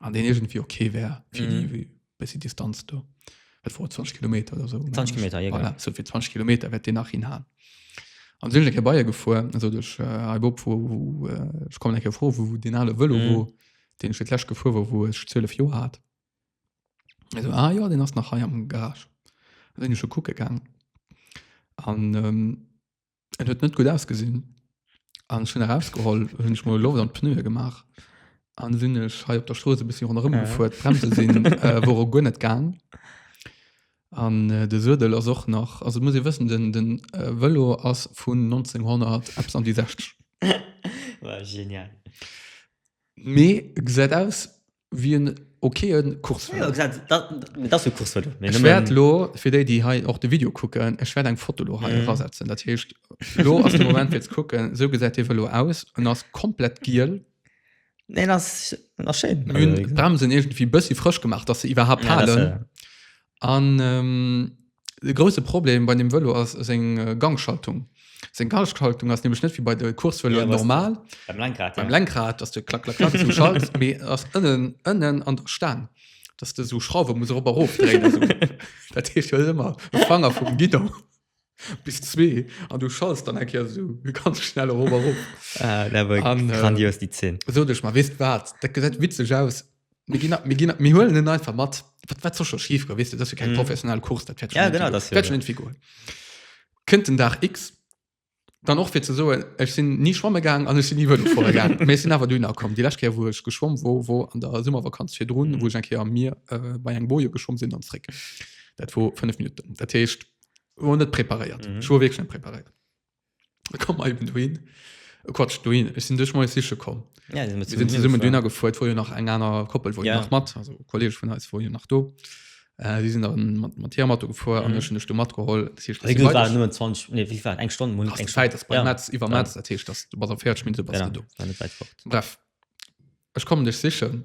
an den irgendwie okay wär fir Mhm. déi, wie bessi Distanz do. Et war 20 Kilometer oder so. 20 Kilometer, ja, Voilà, so fir 20 Kilometer wärt Dir nach hin han. An sinn eng Kéier Bayier gefuer, also duerch äh, hei Bob, wo, wo äh, ich kommen eng Kéier froh, wo den ale Vëlo Mhm. mhm. wo, den ich fir d'Läsch gefuer war, wo ech 12 Joer hat. Also, ah ja, den ass nach hei am Garage. An sinn ich schon kucke gang. An ähm, Et huet net gut ausgesinn an schon herausgeholl hun ich mal Loft an Pneu gemacht an sinn ech hei op der Stroos bis runm ja. gefuert Bremse sinn äh, wo gu net gang an äh, de Södel ass och nach also muss ihr wissen den den äh, Velo ass vun 1900 Apps an die 60 genial. Mee gesäit aus wie en okayen Kurs war. Ja, dat, dat, dat war Kurs war du. Ech wärt lo fir déi déi hei och de Video kucken, ech wärt eng Foto lo hei rasetzen. Dat heescht lo ass de Moment fir ze kucken, sou gesäit hie velo aus. En ass komplett giel. Nee, dat ass dat ass schéin. Mir hunn d'Bremsen iergendwéi bëssi frësch gemaach, dass se iwwerhaapt Ja, dat halen. ass, äh, An ähm, De grousse Problem bei dem Vëlo ass seng Gangschaltung. Seng Gangschaltung ass nämlech net wéi bei de Coursevëloen ja, normal. Beim Lenkrad. Beim ja. Lenkrad, dass du klack, klack, klack so schaltst, mé ass ënnen, ënnen an der Stang. Dass du so Schrauwe muss op erof dréine. So. dat heescht jo ëmmer e Fanger vum Gidon bis zwee an du schalls dann enke so ganz schnell erof. Ah, dat war äh, grandios, die Zinn. So, dech mal, wisst wat, dat gesäit witzeg aus, Mir ginn, mir ginn, mir huelen en einfach mat. Wat, wat soll schon schief gehen, weißt du, das ist ja kein Mhm. professionellen Kurs, das fährt Ja, genau, das fährt schon irgendwie gut. Kënnt den Tag X, dann auch für zu so, ich bin nie schwammen gegangen, an ich bin nie Velo fahren gegangen. Mir sind aber dünner gekommen. Die letzte Kehr, wo ich geschwommen wo, wo an der Sommervakanz für drun, Mhm. wo ich ein Kehr am Meer äh, bei einem Boje geschwommen sind und zurück. Das war fünf Minuten. Das heißt, wir waren nicht präpariert. Mhm. Ich war wirklich nicht präpariert. kom mer eben dohin äh, quatsch dohin ech sinn duerch moies siche komm Ja, die sind wir zu sinn mir zesummen dünner gefuert wo jo nach eng aner koppel wo Ja. nach mat also kollege vun eis wo jo nach do äh, die sinn dann mat mat hier mat gefuer an Mhm. ech hun ech du matgeholl Das heescht, Also, du war weiter- nur 20, nee, wie war, eng Stonn, Hast eng du Zäit, dass bei Ja. Metz iwwer Ja. Metz dat heescht dass du bas a 40 Minuten bas du do Genau, war net weit fort. Bref, ech kommen dech sichen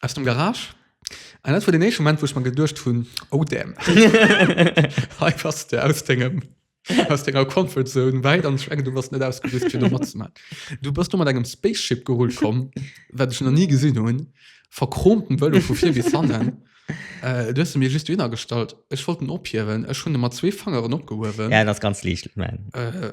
aus dem Garage. An dat war den éischte Moment, wou ech mer geduecht hunn, oh damn, hei bass de aus dengem, aus denger Comfort Zone wäit an ech mengen, du bass net ausgerüst fir do matzemaachen. Du bass do mat engem Spaceship gerullt komm, wat ech nach ni gesinn hunn, verchromten Vëlo vu vir bis hannen. Äh, du hues e mir just dohinner gestallt, ech wollt en ophiewen, ech hunn e mat zwee Fangeren opgehuewen. Ja, en ass ganz liicht, ech mengen. Äh,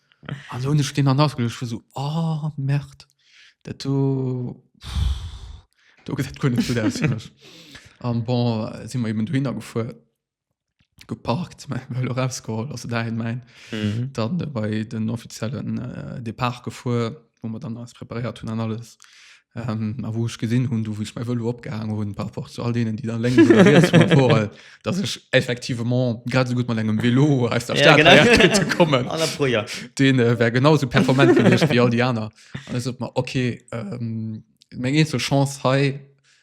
An hun ech deen an ausgelucht vu so oh, Merd dat do do gët dat gun net gut aus fir mech. An bon si mer eben du hinner gefuer geparkt lo rausgeholl ass se dahin mein mhm. dann äh, bei den offiziellen äh, Depart gefuer. wou mer dann alles preparéiert hunn an alles. Ähm, a wou ech gesinn hunn, du wouch mei wëllo opgehang hunn, par rapport zu all denen, déi dann leng vor, dat ech effektivement grad so gutt mat engem Velo aus der Stadt ja, kommen ja. Den äh, wär genauso performant gewichtcht wie all die aner. An es op mal okay ähm, meng een zur Chance hei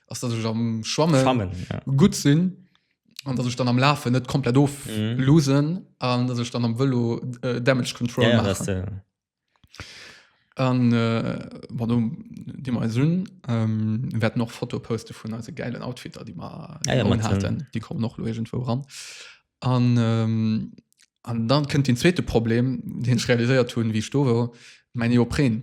ass dat ech am Schwammen, Schwammen ja. gut sinn an dass ich dann am Lafe net komplett of mhm. losen an dass ich dann am Vëlo äh, Damage Control ja, ja, An wat Di mer eis hunn, wäert noch Foto poste vun eise gäilen Outfitter, déi mer haten. Déi kommen och loegent wou ran. An an dann kënnt den zweete Problem, deen ech realiséiert hunn, wéi ech do wor, mäin Neopren.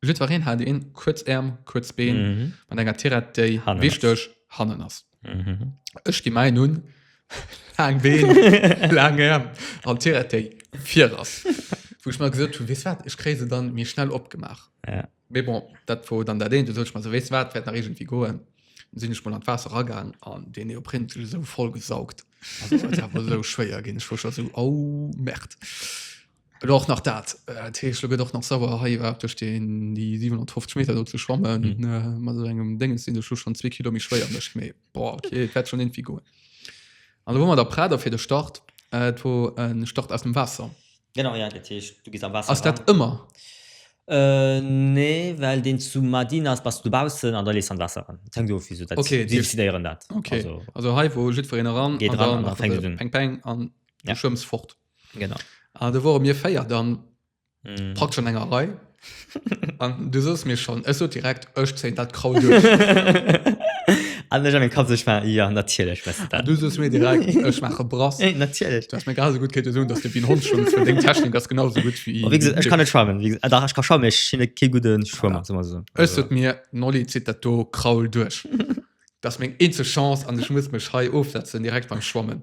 Jiddwereen hat een kuerz Äerm, kuerz Been mat enger Tirette déi wichteg hannen ass. Ech gi mäin un laang Been, laang Äerm an d'Tirette déi vir ass. Wou ech mer gesot hunn, weess wat, ech kréie se dann méi schnell opgemaach. Mee bon, dat wor dann dat eent. Du sot ech mer esou, weess wat, dat wäert nach iergendwéi goen. Dann sinn ech mol an d'Waasser eragaang an deen Neopren huet sech esou voll gesaugt. Also dat war esou schwéier ginn. Ech wor scho esou, oh Merde. Elo och nach dat dat heescht, lo gëtt och nach sauer hei iwwerhaupt duerch den déi 750 Meter do ze schwammen Mhm. äh, mat esou engem Dénges sinn duerch schon zwee Kilo méi schwéier mech méi boah, okay et wäert schon irgendwie goen. An do hu mer der Prader fir de Start äh, et wor en Start aus dem Waasser. Genau, ja, dat heescht, du gees am Waasser Ass dat eran. ëmmer? Äh, nee, well deen zu Madina ass, bass du dobaussen an da lees du an d'Waasser eran. Et hänkt of, wéi se dat Okay, déi- décidéieren dat. Okay, Also, also hei wou jiddwereen eran Geet an eran dann an da macht fänkt et et un. peng peng an Ja. du schwëmms fort. genau an du wore mir feier dann mm. packt schon enger rei an du sost mir schon es so direkt ech ze dat kraut Anders an Kap sech war ja natierlech ah, du sos mé Ech mache brass natierlech dats mé gar so gut ket hun, dats de wien hon schon vun deng Technik ass genau so gut wie Ech kann net schwammen ah, da ech kann scha mech hin ke guden Schwmmer ah, so Ech huet mir nolli zit dat do kraul duerch dats meng eenze Chance an ech muss mech hei ofsetzen direkt beim Schwammen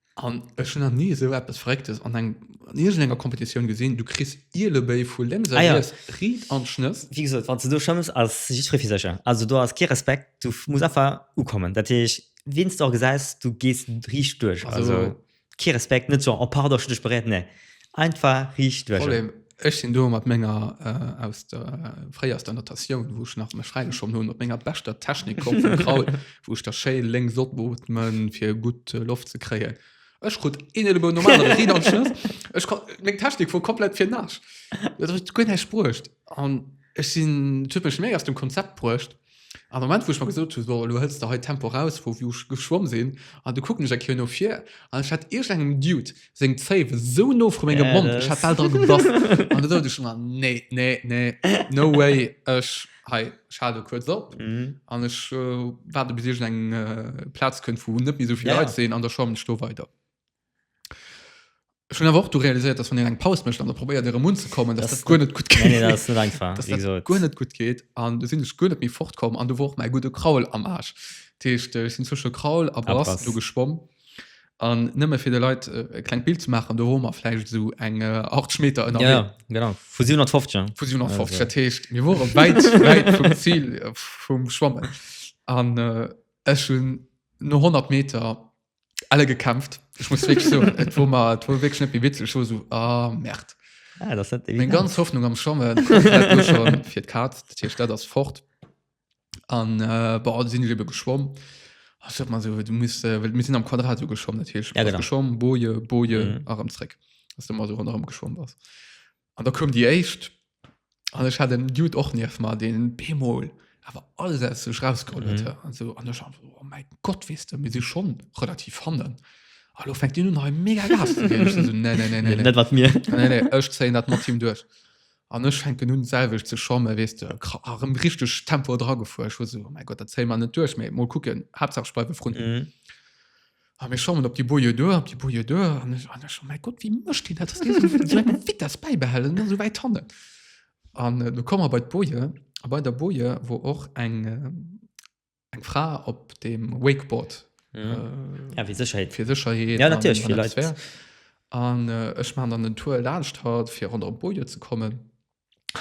An ech hun nach nie esou eppes verrécktes an eng an iergendenger Competitioun gesinn, du kriss Ielebéi vu lénks a Ah ja. riets, Ried an Schnëss. Wéi gesot, wann s de do schëmms, ass jiddweree fir sech. Also do ass kee Respekt, du muss einfach ukommen. Dat heescht, wien s de och gesäis, du gees riicht duerch. Also kee Respekt, net so, oh pardon, ech hunn dech beréiert, nee. Einfach riicht duerch. Problem, ech sinn do mat menger äh, aus der, äh, fréier aus der Natatioun, wou ech nach mech fräigeschomm hunn, mat menger beschter Technik komm vum Kraut, wou ech da schéi lénks opotmen, fir gutt äh, Loft ze kréien. Ech krut een Elebow normal an Ried an Schnëss. Ech kon, meng Technik wor komplett fir Nasch. Dat huet guer näischt bruecht. An ech sinn, dat huet mech méi aus dem Konzept bruecht. An Moment wou ech mer gesot hunn, so elo hëls de hei d'Tempo raus vu wou ech geschwomm sinn, an du kucken ech eng Kéier no vir an ech hat iergendengem Dude seng Zéif esou no vru mengem Mond, ech hat bal dra gebass an du sot ech mer, nee, nee, nee, no way, ech hei, ech hal elo kuerz op an ech waarde bis iergendeng Plaz kënnt wou net méi esou vill Leit sinn an da schwammen ech do weider. Ech hunn awer och du realiséiert, dass wann een eng Paus mécht an der probéiert erëm unzekommen, dass dat guer net gutt geet. Nee, dat ass net einfach, wéi gesot. Guer net gutt geet an du sinn ech guer net méi fortkomm an du war och mäi gudde Kraul am Aarsch. Dat heescht, ech sinn zwësche Kraul a Brass do geschwomm an nëmme fir de Leit e klengt Bild ze maachen, do wore mer vläicht esou eng 80 Meter ënnerwee. Ja, ja, genau. Vu 750, ja. Vu 750, dat heescht, mir wore wäit, wäit vum Zil vum Schwammen an ech hunn no 100 Meter alle gekämpft ich muss wirklich so wo man wo wirklich net wie witzig so so ah merkt ah, das hat mein ganz Hoffnung am Schommen schon fir Kat hier statt das fort an äh, bei sind liebe geschwommen Ach, man so du muss äh, wir sind am Quadrat so geschwommen natürlich ja, genau. geschwommen boje boje mhm. arm Zweck dass du mal so rundherum geschwommen warst An da koum déi éischt, an ech hat en Dude och nieft mer, deen bemol awer alles aus sech rausgeholl huet. Mhm. An so, an ech war so, oh mäi Gott, weess de, mir si schonn relativ hannen. Hallo, fänkt Dir un hei mega Gas ze ginn? Ech so, nee, nee, nee, nee, nee. Net wat mir. nee, nee, ech zéien dat mat him duerch. An ech fänken un selwech ze schommen, weess de, kra- ah, rëm richteg Tempo dra gefuer. Ech war so, oh mäi Gott, dat zéie mer net duerch, mee mol kucken, Haaptsaach ech bleiwe vrun. Mhm. A mir schongen op déi Boje duer, op déi Boje duer, an ech, an ech, oh mäi Gott, wéi mécht deen dat? Vitess bäibehalen, dann esou wäit hannen. An do komme mer bei d'Boje, a bei der Boje wor och eng, eng Fra op deem Wakeboard. Mhm. Ja, fir Sécherheet. Fir Sécherheet. Ja, natierlech, fir Leit. An ech maachen dann den Tour laanscht hatt, fir ronderëm d'Boje ze kommen.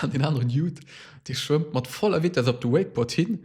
An deen aneren Judd, dee schwëmmt mat voller Vitess op de Wakeboard hin,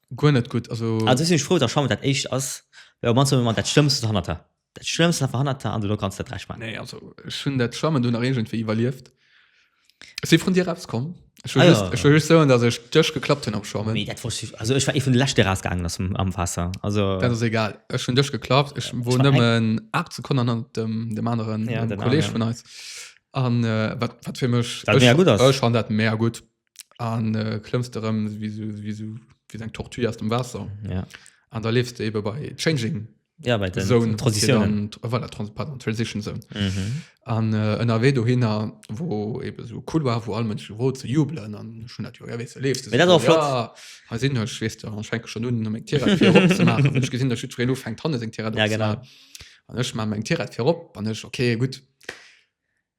Guer net gutt, also. Also ech sinn ech frou dass Chambre dat éischt ass, well op mannst huet mer dat schlëmmsten hannerter, dat schlëmmsten einfach hannerter an duerno kanns de dat recht maachen. Nee, also ech hunn dat Schwammen do nach iergendwéi iwwerlieft. Ech si vrun dir eraus komm, ech wëll Ah, just, ja. ech wëll just soen, dass ech dech geklappt hunn am Schwammen. Mee dat wosst ech, also ech war ee vun de lescht dee rausgaangen ass am am Waasser, also. Dat ass egal, ech hunn dech geklappt, ech wor war eng- nëmmen 8 Sekonnen hannert dem dem aneren Ja, dem den Kolleg aneren. vun eis an äh, wat wat fir mech, Wat mega gutt ass. ech fann dat mega gutt. an äh, klëmms du rëm wie so, wie so, wie eng Tortue aus dem Wasser ja. an da lebst du eben bei Changing ja, bei den Zone, Transitionen dann, voilà, Trans pardon, Transition Zone mhm. an äh, ënnerwee do hinner wo eben so cool war wo all Mënsche wo ze jubelen an schon dat jo ja, weißt, du lebst du so, ja, ha sinn ech wees du schenke schon nun eng Tier gesinn der Schüre lo fängt hanne seg Tier ja, genau an ech ma eng Tier fir op an ech okay gut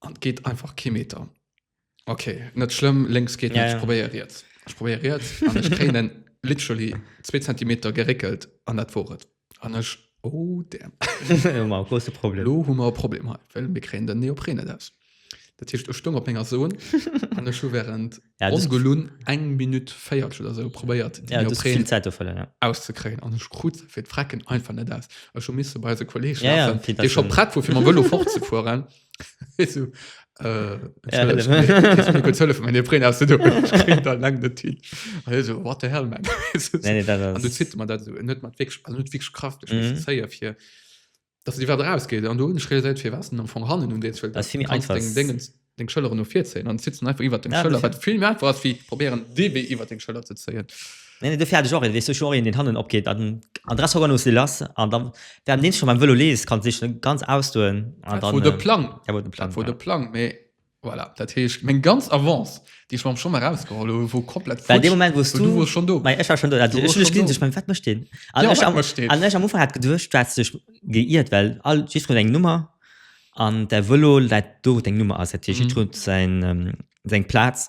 an geht einfach kein Meter okay net schlimm links geht ja, ja. probiere jetzt ich probiere jetzt an ich tränen literally zwei Zentimeter gereckelt an dat vor an ich oh damn große Problem Lo, haben wir ein Problem weil wir kriegen den Neopren das das heißt ich stumm auf meiner Sohn an der Schuh während ongelunn eng Minutt véiertsch oder sou probéiert déi Neopren auszekréien an ech krut se fir d'Frecken einfach net aus. Ech hu misse bei eise Kollee schleppen, dee scho prett wor fir mam Vëlo fortzefueren. Dass et iwwert eraus geet an do hunn ech realiséiert firwat en am Fong hannen un deem Zwiel ass, du kanns deng Déngens, deng Schëlleren no vir zéien an et zitt en einfach iwwert deng Schëller, wat vill méi einfach ass wéi probéieren dee Wee iwwert deng Schëller ze zéien. Nee nee dofir hat ech och een, weess du, ech hu och een deen hannen opgeet an den Adresse Hockern Ursel ass an da während deem s de scho beim Vëlo lees kanns de dech ganz ausdoen an dann. Dat wor de Plang, dat wor de Plang, mee Voilà, dat heescht meng ganz Avance, déi ech mam Schong erausgeholl hu wor komplett futsch. Well dee Moment wou's du, du wors schon do. Mei ech war schon do. Du wors schon do. Mei wat mécht deen? An ja, ech am, mécht deen? An ech am Ufang hat geduecht, du hättest dech geiirt, well all Jitro eng Nummer an däi Vëlo läit do wou deng Nummer ass. Dat heescht, Jitro huet säin, säin Plaz.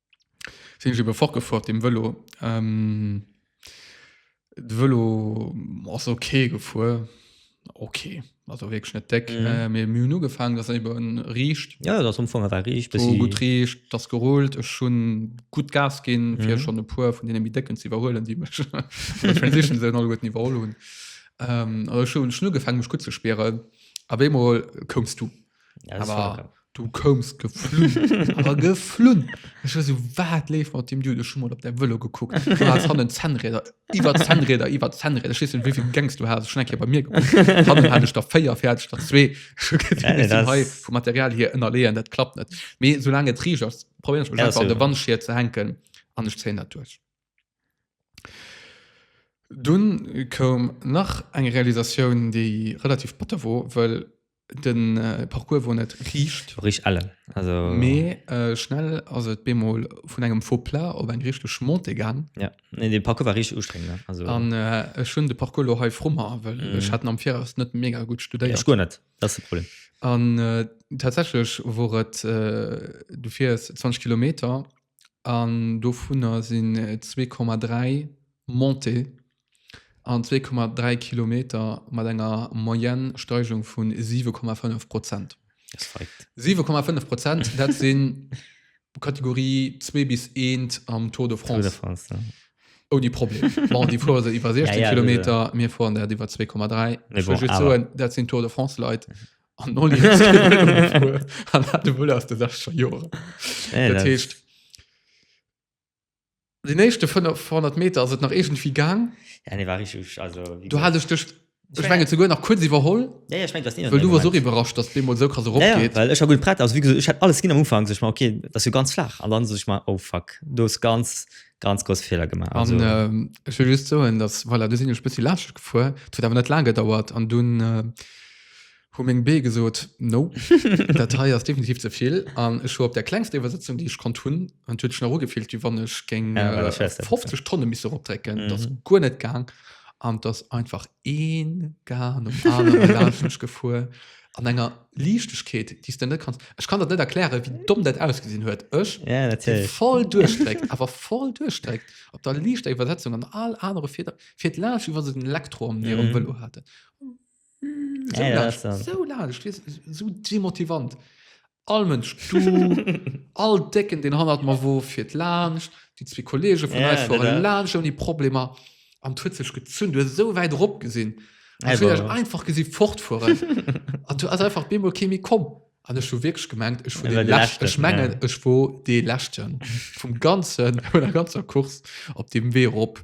Sinn ech ebe fortgefuer dem Vëlo. De Vëlo ass ok gefuer, ok also wierklech net déck, mee mir hunn ugefaangen, dass en ebe riicht, jo et ass am Fong awer riicht, bessi gutt riicht, et ass gerullt, ech hunn gutt Gas ginn, fir schonn e puer vun deene méi décken ze iwwerhuelen, déi mech an der Transition esou alleguerten iwwerholl hunn. Ech hunn ugefaangen mech gutt ze spieren, a bémol koums du. Ja, das ist Aber- vollkommen- Du koumst geflunn. Awer geflunn. Ech war so, wat leeft mat dem Dude? Ech hu mat op däi Vëlo gekuckt. Du has hannen Zännräder, iwwer Zännräder, iwwer Zännräder. Ech weess net, wéivill Gangs du has. Ech hun eng Kéier bei mir gekuckt. Hannen hat ech der véier, vir hat ech der zwee. Ech hu gesinn, Ja, ech sinn das- hei vum Material hier ënnerleeën, dat klappt net. Mee soulaang et riicht ass, probéieren ech mech Ja, einfach an so. de Wandschier ze hänken an ech zéien dat duerch. Dunn koum nach eng Realisatioun, déi relativ batter wor, well Den Parcours wor net riicht. Rich ellen, also. Mee schnell ass et bemol vun engem faux plat op eng richteg Montée gaang. Ja, nee de Parcours war richteg ustrengend, ne? Also. An ech hunn de Parcours lo hei vru mer, well ech hat en am Viraus net mega gutt studéiert. Ech guer net, dat ass de Problem. An tatsächlech wor et, du fiers 20 Kilometer an dovunner sinn 2,3 Montée. an 2,3 Kilometer mat enger Moyenne Steigung vu 7,5 Prozent. 7,5 Prozent dat sinn Kategorie zwee bis eent am Tour de France. Tour de France ja. Ouni Problem. bon, déi fuere se iwwer 16 ja, ja, Kilometer, ja. mir fueren dat iwwer 2,3. Ech wëll just soen, dat sinn Tour de France Leit. Mhm an no de Wuel ass de Sascha Joer. Dat heescht. Den éischte 500 Meter ass et nach iergendwéi gaang. Ja, nee, war richteg, also, wéi Do hat ech dech, ech mengen, souguer nach kuerz iwwerholl, Ja, ja, ech mengen, du hast nie wëll du wars och iwwerrascht, dass bemol esou krass erop Ja, ja, geet. well ech war gutt prett, also, wéi gesot, ech hätt alles ginn am Ufank, sech mer, ok, dat ass jo ganz flaach, an dann sech ech mer, oh fuck, do hues ganz, ganz grousse Feeler gemaach, also. An ech wëll just soen, dass, voilà, du sinn ech e bëssi laanschteg gefuer, et huet awer net laang gedauert, an dunn, Hu meng Bee gesot, No, dat hei ass definitiv ze vill. An ech hu op där klengster Iwwersetzung, déi ech konnt hunn, an et huet sech nach ugefillt, wéi wann ech géing 50 Tonne missen eropdrécken. Et ass guer net gaang an et ass einfach ee Gar nom anere laanscht mech gefuer an enger Liichtegkeet, déi s de net kanns. Ech kann der net erklären, wéi domm dat ausgesinn huet. Ech, dee voll duerchdréckt, awer voll duerchdréckt, op der liichter Iwwersetzung an all anere Fieder fiert laanscht, wéi wa se den Elektro am Vélo haten. So Ja, ja, laang, das dann. so laang, ich weiß, so demotivant. All Mensch, du, all Decken, den hannert mir wo fir laanscht, die zwee Kollege vun Ja, eis fueren dat- laanscht ouni Problemer. An huet sech gezünn, du hast so wäit erop gesinn. Ja, Also, ja. einfach gesinn fortfueren. An du hast einfach bemol kee méi komm. An ech hu wirklich gemengt, ech war Ja, den der Leschten. Leschten, Ech mengen, ja. ech war dee Leschten vum ganzen, vun der ganzer Kurs op dem Wee erop.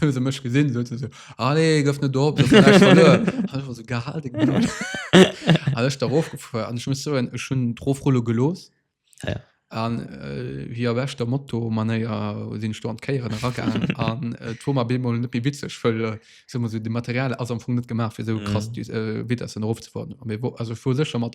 Hu se mech gesinn so se so, Allez, gëff net op, dat war echt verluer. An ech war so, Gehal deng Blöd. An ech darauf gefuer an ech muss soen, ech hunn d'Rofrulle gelooss. Ja. An äh, wéi a beschter Moto-Manéier sinn ech do an d'Kéieren eragaangen. An äh, et wor mer op eemol net méi witzeg, wëll äh, soe mer esou, de Material ass am Fong net gemaach, fir esou krass Dis- äh, Vitessen erofzefueren. Mee wor, also ech wor sécher mat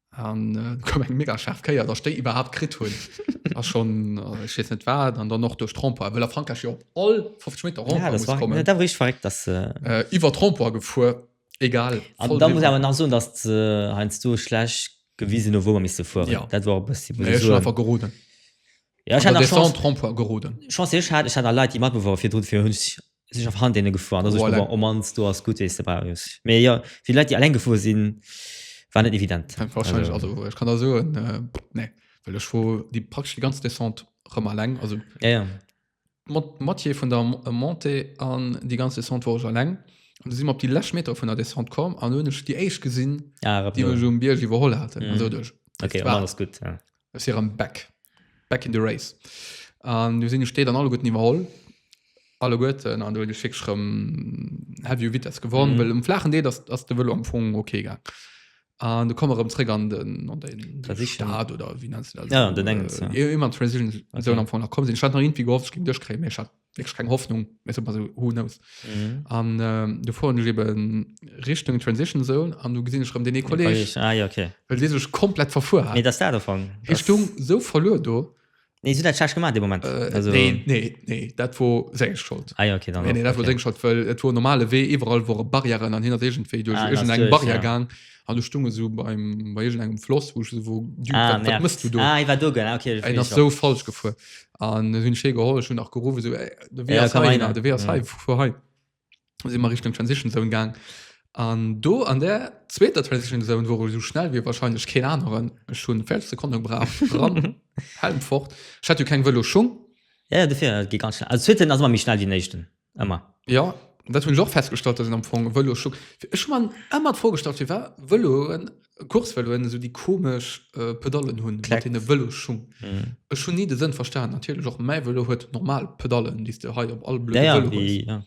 an äh, kom eng mega scharf Kéier der stei iwwerhaupt krit hun a schon äh, ich net war dann dann noch durch Trompo well a Frankreich op all 50 Me ja, das war, kommen ja, da war ich verreckt dass äh, äh, iwwer Trompo gefu egal an da muss aber nach so dass äh, heinz du schlecht gewesen wo man miss vor ja. dat war bis nee, so, einfach geroden ja, ich hatte Trompo geroden chance ich hatte ich hatte Leute die mat bevor vier fir hun Sinn ech op Handene gefuer an da so Voilà. oh mans do ass gutt wéi s de bei hues. Mee jo fir Leit déi eleng gefuer sinn war net evident. Fänkt wahrscheinlech also ech kann der soen äh, nee well ech wor déi praktesch déi ganz Descente rëm alleng also Ja ja. mat Moitié vun der Mo- Montée an déi ganz Descente wor ech alleng an du si mer op déi lescht Meter vun der Descente komm an du hunn ech déi éischt gesinn Ah rëm déi no. mech um Bierg iwwerholl haten an Mhm. sot ech, Okay, dat war alles gutt, ja. Ech si rëm back, back in the race. An du sinn ech déi dann alleguerten iwwerholl. Alleguerten. An do hunn ech wierklech rëm heavy u Vitess gewonnen, mhm. well um flachen Deel ass, ass de Vëlo am Fong okay gaang. An du komme rëm zréck an den, an den Stad oder wie nennst du das? Ja, an den engen. Äh, ja. Immer Transition Zone okay. am Fong nach kommen sinn. Ich hat nach irgendwie gehofft, ich ging duerchkriegen, mir ich hat wirklich keine Hoffnung mehr so, also who knows mhm. an ähm, du fuhren ich eben Richtung Transition Zone an du gesehen ich den Kollege ah, ja, okay. weil die sich komplett verfuhr nee, das da davon Richtung das... so verloren du Nee, so dat gemacht de moment äh, also, nee, nee, nee. dat wo se schuld ah, ja, okay, nee, nee, dat okay. schuld, weil, et wo normale wee iwwerall wo barrieren an hinter egent wee duch ah, eng barrier ja. gang an du stunge so beim bei engem floss wo, wo ah, du, ah, du, du ah, war du, okay, so falsch gefu an hunn Schee geholl schon nach gerufen so, ey, de Wee Ja, ass komm hei, rein, na, de Wee ass ja. hei, fuer hei si mer Richtung Transition Zone gaang an do an der zweeter Transition Zone wou sou schnell wie wahrscheinlech keen aneren ech hunn 5 Sekonne gebrauch ran Helm fort ech hat jo keng Vëloschung Ja, ja, dofir, et geet ganz schnell. Also, zweeten ass ëmmer méi schnell wéi den éischten. Ëmmer. Ja, dat hunn ech och festgestallt, dass een am Fong Vëlo scho ech hu mer ëmmer d'Frogestalt firwat Vëloen, Coursevëloen esou déi komesch äh, Pedallen hunn mat hinne Vëloschung. Mhm. Ech hunn ni de Sënn verstan. Natierlech och mäi Vëlo huet normal Pedallen, déi s de hei op all blöde Ja, ja, Vëlo hues. wéi, ja.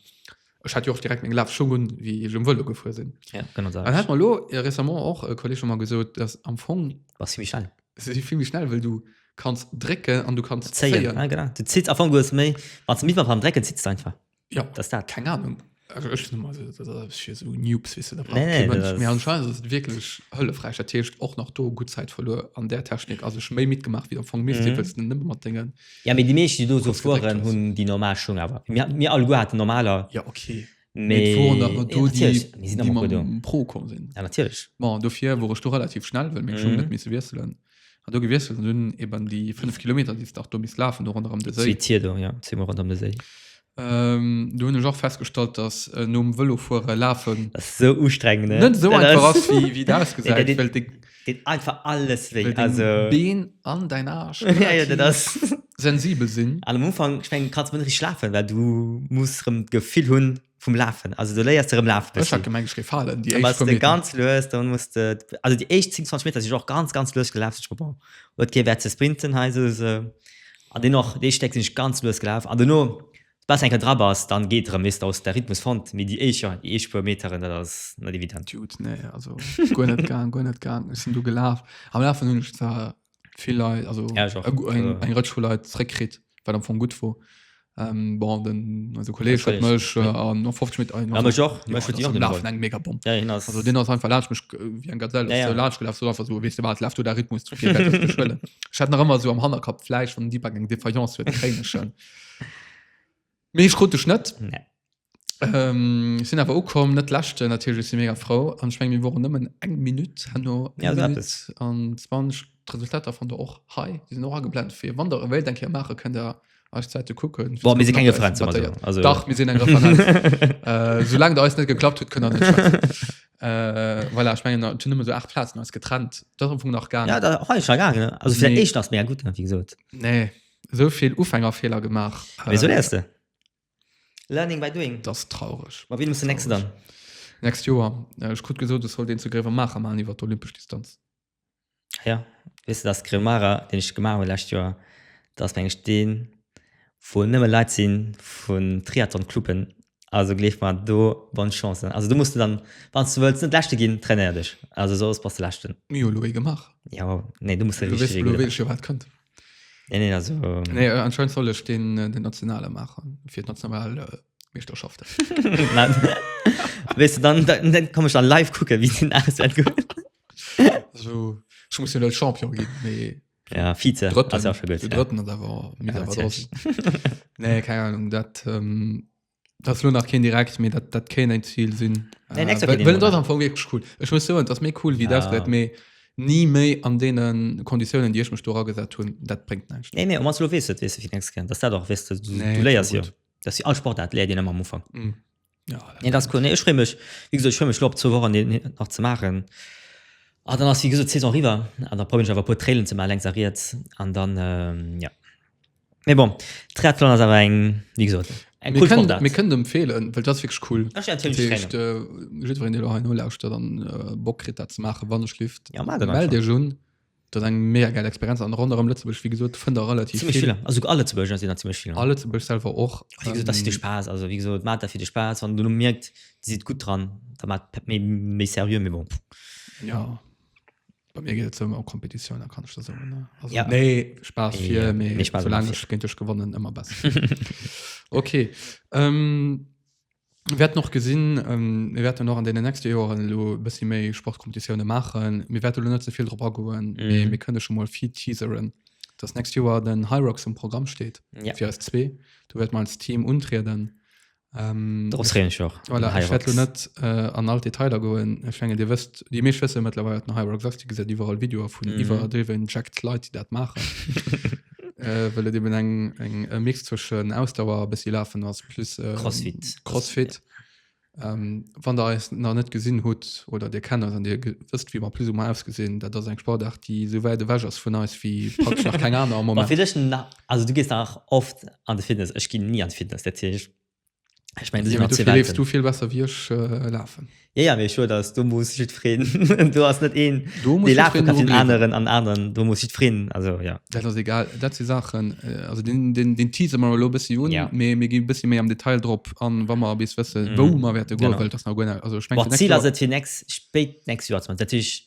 Ech hat jo och direkt meng Lafschung un, wéi ech um Vëlo gefuer sinn. ja genau An hat mer lo äh, récemment och e Kolleg hu mer gesot, dass am Fong War zimmlech al. Se si vill méi schnell, well du kanns drécken an du kanns zéien. Zéien, ja genau. Du zitt, am Fong hues méi, wann se méi beim Drécken zitt se einfach. Ja, Dat ass dat. keng Ahnung. Also ech sinn mal, dat ass fir so Noobs, weess du, da brauch Nee, nee, kee Mënsch. dat- Mee anscheinend ass et wierklech hëllefräich. Dat heescht och nach do gutt Zäit verluer an där Technik. Also ech hu méi mitgemaach, wéi am Fong misst, Mhm. wëlls du nëmme mat dengen Ja, mee déi meeschten, déi do so Kurz gedréckt fueren, ass. hunn déi normal Schung awer. Mir, mir alleguer haten normaler Ja, okay. Mee et woren nach mat do, déi mam Pro komm sinn. Ja, natierlech. Bon, dofir wor ech do relativ schnell, well meng Schung huet net misse wiesselen. Hat do gewiesselt an hunn eben déi fënnef Kilometer, déi s de och do misst lafen, do ronderëm de Séi. Zwee Tier do, jo, zweemol ronderëm de Séi. Do hunn ech och festgestallt, dass nom Vëlofuere lafen. Dass et esou ustrengend ass. Net esou einfach ass, wéi et ausgesäit, well de. Deen einfach alles wéi well also deng Been an däin Aarsch ja, ja, dat ass relativ sensibel sinn. An am Ufank, ech mengen, kanns du mol net richteg lafen, well du muss rëm d'Gefill hu vum Lafen. Also do léiers de rëm lafe Ech hat bëssi. gemengt, ech géif falen, déi An éischt wann puer de Meter. ganz lues, dann muss de, also déi éischt 10, 20 Meter sinn ech och ganz, ganz lues gelaf, sech geduecht, bon, huet kee Wäert ze sprinten hei, sou se. An deen och, déi éischt Stéck sinn ech ganz lues gelaf an dono Bass enkel dra bass dann geet rem nees daus der Rhythmus fond mee déi éischer déi éischt puer Meteren dat ass net evident. Jude, nee also guer net gaang guer net gaang ech sinn du gelaaf am Lafen hunn ech zwar vill Leit also ja, eng, eng Rëtsch vu Leit zréck kritt wat am Fong gutt wor ähm, bon den also Kolleg huet mech äh, an no 50 Meter ja, mech och mech huet jo nach eng mega Bomb ja, hin ass also den ass einfach laatsch mech wie eng Gazelle ja, ja. laatsch gelaf so einfach so wees du wat laaf du der Rhythmus zu vill schwëllen ich hat nach ëmmer so am Hannerkapp fleisch von Deepak eng Defaillance huet kréien schon Mee ech krut dech net. Nee. Ähm, sinn awer ukomm net lächte natierlech si mega Frau an schwng mir woren nëmmen eng Minutt hanno Ja, dat ist- an 20 Resultater von der och hei die sind och ageblent fir wann der wéilt eng Kéier maache kënnt der eis Zäite kucken Boah, mir si keng Referenz, soll man soen. Also- Dach mir sinn eng Referenz äh, soulaang der eis net geklappt huet kënnt der net schwätzen. äh, voilà, ech mengen et hunn nëmme sou 8 Plazen eis getrennt dat ass am Fong nach gaangen Ja, da hei schon gaangen, ne? Also fir Nee. den éischten ass mega gutt, ne, wéi gesot. nee So vill Ufängerfeeler gemaach. Mee sou léiers de. Learning by doing. Dat ass traureg. Ma wéini muss den nächste dann? Next Joer. Ech krut gesot, ech sollt een zu Gréiwemaacher maachen iwwer d'olympesch Distanz. Ah ja, weess de, dass Gréiwemaacher, deen ech gemaach hu d'lescht Joer, dat ass mengen ech deen, wou nëmme Leit si vun Triathlon-Cluben. Also gleef mer, do bonne chance. Also do muss de dann, wann s de wëlls net Leschte ginn, trainéier dech. Also soss bass de Leschten. Jo, elo ee gemaach. Jo, nee, do muss de richteg. Elo weess ech jo, wat kënnt. Nee, nee, also, Nee, äh, anscheinend soll ech den, äh, den Nationale machen, fir d'national äh, Meeschterschaften. Nein. weißt du, dann, dann, dann komme ich dann live gucken, wie den ASL gewinnt. Also, ich muss ja net Champion ginn, mee Ja, Vize. Drëtten, Also, schon gut, den ja. Drëtten ass awer Ja, mies awer natürlich. draussen. Nee, keine Ahnung, dat, ähm, Das lo nach kein direkt, mir dat, dat kein ein Ziel sinn. Nee, nächstes Jahr Äh, geht den well das Monat. am Anfang wirklich cool. Ich muss sagen, das mir cool, wie Ja. das wird, mir nie mehr an denen Konditionen, die ich mich da ragesetzt hun, dat bringt nichts. Nee, nee, meinst du, du weißt es, weißt du, wie nächstes Jahr. Das ist das auch, weißt du, du, Nee, du lehrst ja. gut. Das ist wie all Sportart, lehrt ihr immer am Anfang. Mm. Ja, dat- Nee, das ist cool. Nee, ich freue mich, wie gesagt, ich freue mich, lo, ab zwei Wochen den hier noch zu machen. Ah, dann ist, wie gesagt, die Saison rüber. Und dann probiere ich einfach ein paar Trailen zu machen, links und rechts. Und dann, ähm, ja. Mee bon, Triathlon ass awer eng, wéi gesot, eng cool Sportaart. Mir kënnen et empfeelen, well et ass wierklech cool. Ech empfeelen et jiddwerengem. Dat heescht, jiddwereen, dee lo hei nolauschtert an Bock kritt, dat ze maachen, wann ech lift, Ja, maacht et einfach. mellt Iech un. Dat ass eng mega gäil Experienz. An ronderëm Lëtzebuerg, wéi gesot, fënnt Der relativ Zimmlech vill. vill. A souguer a Lëtzebuerger sinn der zimmlech vill. A Lëtzebuerg selwer och. A wéi gesot, dat ass fir de Spaass. Also, wéi gesot, maacht dat fir de Spaass. Wann Der elo mierkt, Dir sidd gutt dran, da maacht méi seriö. Mee bon. Jo. Bei mir geet et ëmmer um Kompetitioun, da kann ech da soen. ne? Also, Ja. Nee, Spaß vier, Ja, nee, nee, Spaß solange vier. ich gegen dich gewonnen, immer besser. okay. Ähm, wir werden noch gesehen, ähm, wir werden noch an den nächsten Jahren lo ein bisschen mehr Sportkompetitionen machen. Wir werden lo nicht so viel drauf angehen, Mhm. mhm. wir können schon mal viel teasern, dass nächstes Jahr den High Rocks im Programm steht. Ja. Für uns zwei. Du wirst mal als Team untreten. Ähm, Darauf freue ich mich auch. Voilà, ich Hyrox. werde net äh, an all Detailer goen ich menge dir wisst die Mensch wissen mittlerweile den Hyrox sagst die gesagt überall Video von Mhm. mhm. überdriven Jacked Leute die dat machen äh, weil et eben eng eng e Mix zwischen Ausdauer bis sie laufen ass plus äh, Crossfit. Crossfit ähm, wann der es nach net gesinn hutt oder dir kennt an dir ge- wisst wie man plus um ausgesinn dat ass eng Sportart die so weit weg ass vun eis wie praktisch nach keine Ahnung am Aber Moment vielleicht nach, Also du gees nach oft an de Fitness. Ech ginn ni an Fitness, dat heescht, ech mengen do sinn nach zwee Welten. Du vill besser wéi ech lafen. Jo jo, mee ech soe dass do muss jiddwereen, do ass net een dee lafe kann fir den aneren an den aneren, do muss jiddwereen, also jo. Dat ass egal, dat si Saachen, also deen tease mer elo e bëssi un, mee mir gi e bëssi méi am Detail drop an, wa mer bis wësse wou mer wäerte goen, well et ass nach guer, also ech mengen fir d'nächst Joer. D'Zil ass et fir d'nächst, spéit d'nächst Joer ze maachen, dat heescht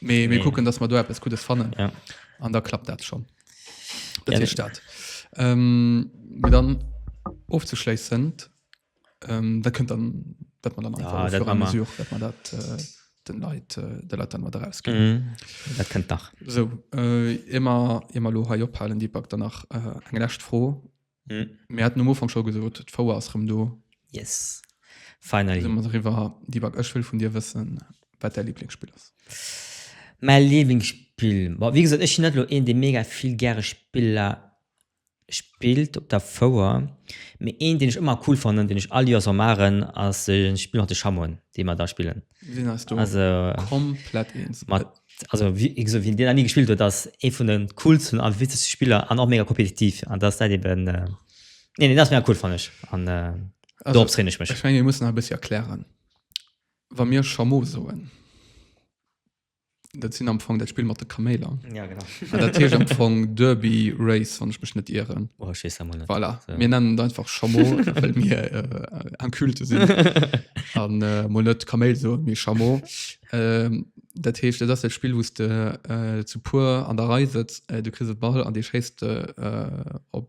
Mee mir kucken, dass mer do eppes Guddes fannen. Ja. An da klappt dat schonn. Dat Ja, heescht dat. Ähm, mee dann ofzeschléissend, ähm, dat kënnt dann, dat mer dann Ja, einfach au dat fur et à ma mesure, dat mer dat äh, den Leit, äh, de Leit dann mat erausginn. Mhm. Dat kënnt nach. Sou, äh, ier mer, ier mer elo hei ophalen, Dipak, dann nach äh, eng lescht Fro. Hm. Mir hatten um Ufang scho gesot, d'Fouer ass rëm do. Yes. Finally. Sinn mer doriwwer. Dibak, ech wëll vun dir wëssen, wat däi Liblingsspill ass. Mäi Liblingsspill? Bon, wéi gesot, ech sinn net elo een, dee mega vill gäre Spiller spillt op der Fouer. Mee een, deen ech ëmmer cool fannen, deen ech all Joer sou maachen, ass e Spill mat de Chamoen, déi mer da spillen. Sinn eis do also, komplett eens. Mat, also, wie, ich so, wie den nie gespielt huet, dass ee vun den coolsten an witzigsten Spieler an och mega kompetitiv an dass dat eben äh, nee, nee, das mega cool fand ich an äh, also, darauf traine ich mich. Ich meine, wir müssen ein bisschen erklären, wann wir Chameau soen. Dat sinn am Fong dat Spill mat de Kaméiler. Ja, genau. Ah, dat heescht am Fong Derby Race, wann ech mech net ieren. Oh, ech weess dat mol net. Voilà, So. mir nennen et einfach Chameau, well mir äh, en Culte sinn an äh, mol net Kaméil soen, mee Chameau. Ähm, dat heescht, dat ass dat Spill, wou s de äh, zu puer an der Rei sëtz, äh, du kriss e Ball an dee schéisst de äh, op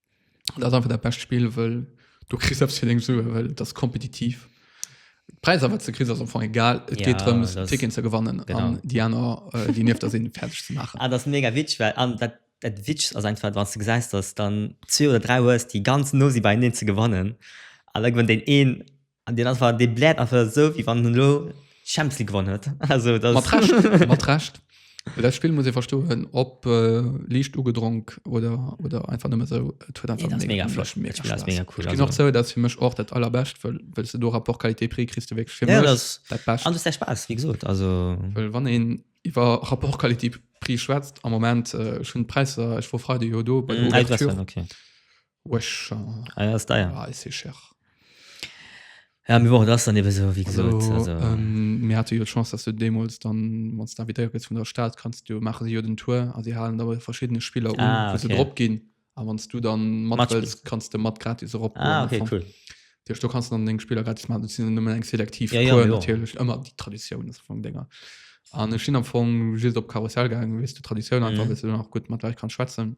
dat einfach der best spiel wëll du kri selbst fir deng Sue well das kompetitiv Preis awer ze kri am Anfang egal et ja, geht darum Ticken ze gewannen an die aner äh, die nieft der sinn fertig ze machen ah, das mega Witsch well an dat dat Witsch as einfach wann du geseist dass dann 2 oder 3 hues die ganz no si bei den ze gewannen an irgendwann den een An deen ass war dee bläert einfach esou wéi wann en elo d'Champions League gewonnen huet. Also dat Mat Recht, mat Recht. Well dat Spill muss ee verstoen, ob liicht ugedronk oder, oder einfach nëmme esou, et huet einfach Nee, dat ass mega flott. mega Dat Spill ass Spaass. mega cool. Ech ginn och zou, dat ass fir mech och dat Allerbescht, well, well s de do Rapport Qualité-Prix kriss, du wierklech fir Ja, mech dat ass- dat Bescht. an du hues däi Spaass, wéi gesot. Also Well wann een iwwer Rapport Qualité-Prix schwätzt am Moment, ech hunn d'Präisser, ech wor Freide jo do bei der Ouverture, okay. Wesh. Ah ja, ist deier. Ah, ist cher. Ja, mir woren das dann eben so, wie gesagt. Also, also. Ähm, mir hatte jo Chance, dass du demals dann, wenn du invitéiert gëtt vun der Stadt, kannst du, machen sie jo den Tour, also sie halen aber verschiedene Spieler um, ah, okay. du drop gehen. Aber wenn du dann mat willst, kannst du mat gratis drauf Ah, okay, davon. cool. Dir du kannst dann den Spieler gratis machen, du sind nur eng selektiv ja, Tour, ja, natürlich, ja. immer die Tradition ist von Dinger. An ich bin am Anfang just auf Karussell gegangen, wie du Tradition mhm. einfach, dass du dann auch gut mit Leuten kannst schwätzen.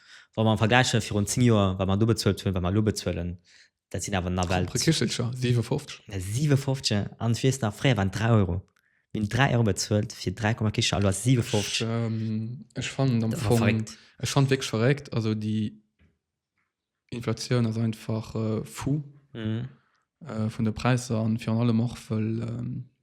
Wa mer vergläiche virun zéng Joer, wat mer do bezuelt hunn, wat mer elo bezuelen, dat sinn awer nawell. Propre Kichelcher, 57. 57, an ech weess nach, fréier waren et 3 Euro. Mir hunn 3 Euro bezuelt fir 3 Komma Kicher, elo ass et 57. Ech, ech fannen am Fong. Verréckt. Ech fanne et wierklech verréckt. Also déi Inflatioun ass einfach fou vun de Präisser an virun allem och wëll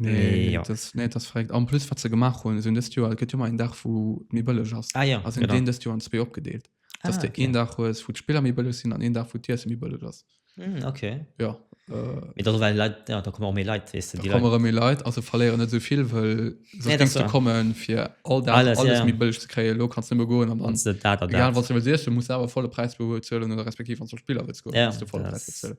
Nee, ja. das, nee, das verregt. Am plus wat ze gemacht hun sind dest Joer gëtt jo mal en Dach wo mir bëlleg ass. Ah ja, Also genau. den dest Joer an zwee opgedeelt. Dass ah, de okay. een Dach hues wo d'Spiller méi bëlleg sinn an een Dach wo d'Iessen méi bëlleg ass. Mm, okay. Ja. Äh, Mit also, weil Leute, ja, da kommen auch mehr Leute, weißt du, da die kommen Leute. immer méi Leit also verléieren net sovill well Nee, das sonst denkst du war- kommen fir all Dach Alles, alles, ja, alles ja. méi bëlleg ze kréien. Lo kannst du nëmme goen an dann Kannst du da, da, da. egal was du willst, du musst awer volle Preis bezuelen oder respektiv an zum Spiller willst goen, Ja, musst du volle Preis das- bezuelen.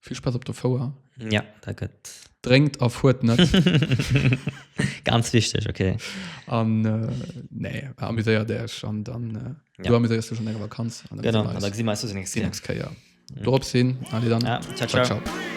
Vill Spass op der Fouer. Ja, dat gëtt. Drénkt a fuert net. Ganz wichteg, okay. An äh, nee, amuséiert Iech an dann äh, ja. du amuséiers du schon enger Vakanz. An genau, an da gesi meist du nächste nächst Keier. Mhm. Dorop sinn, alle dann. Ja, ciao, ciao. ciao, ciao.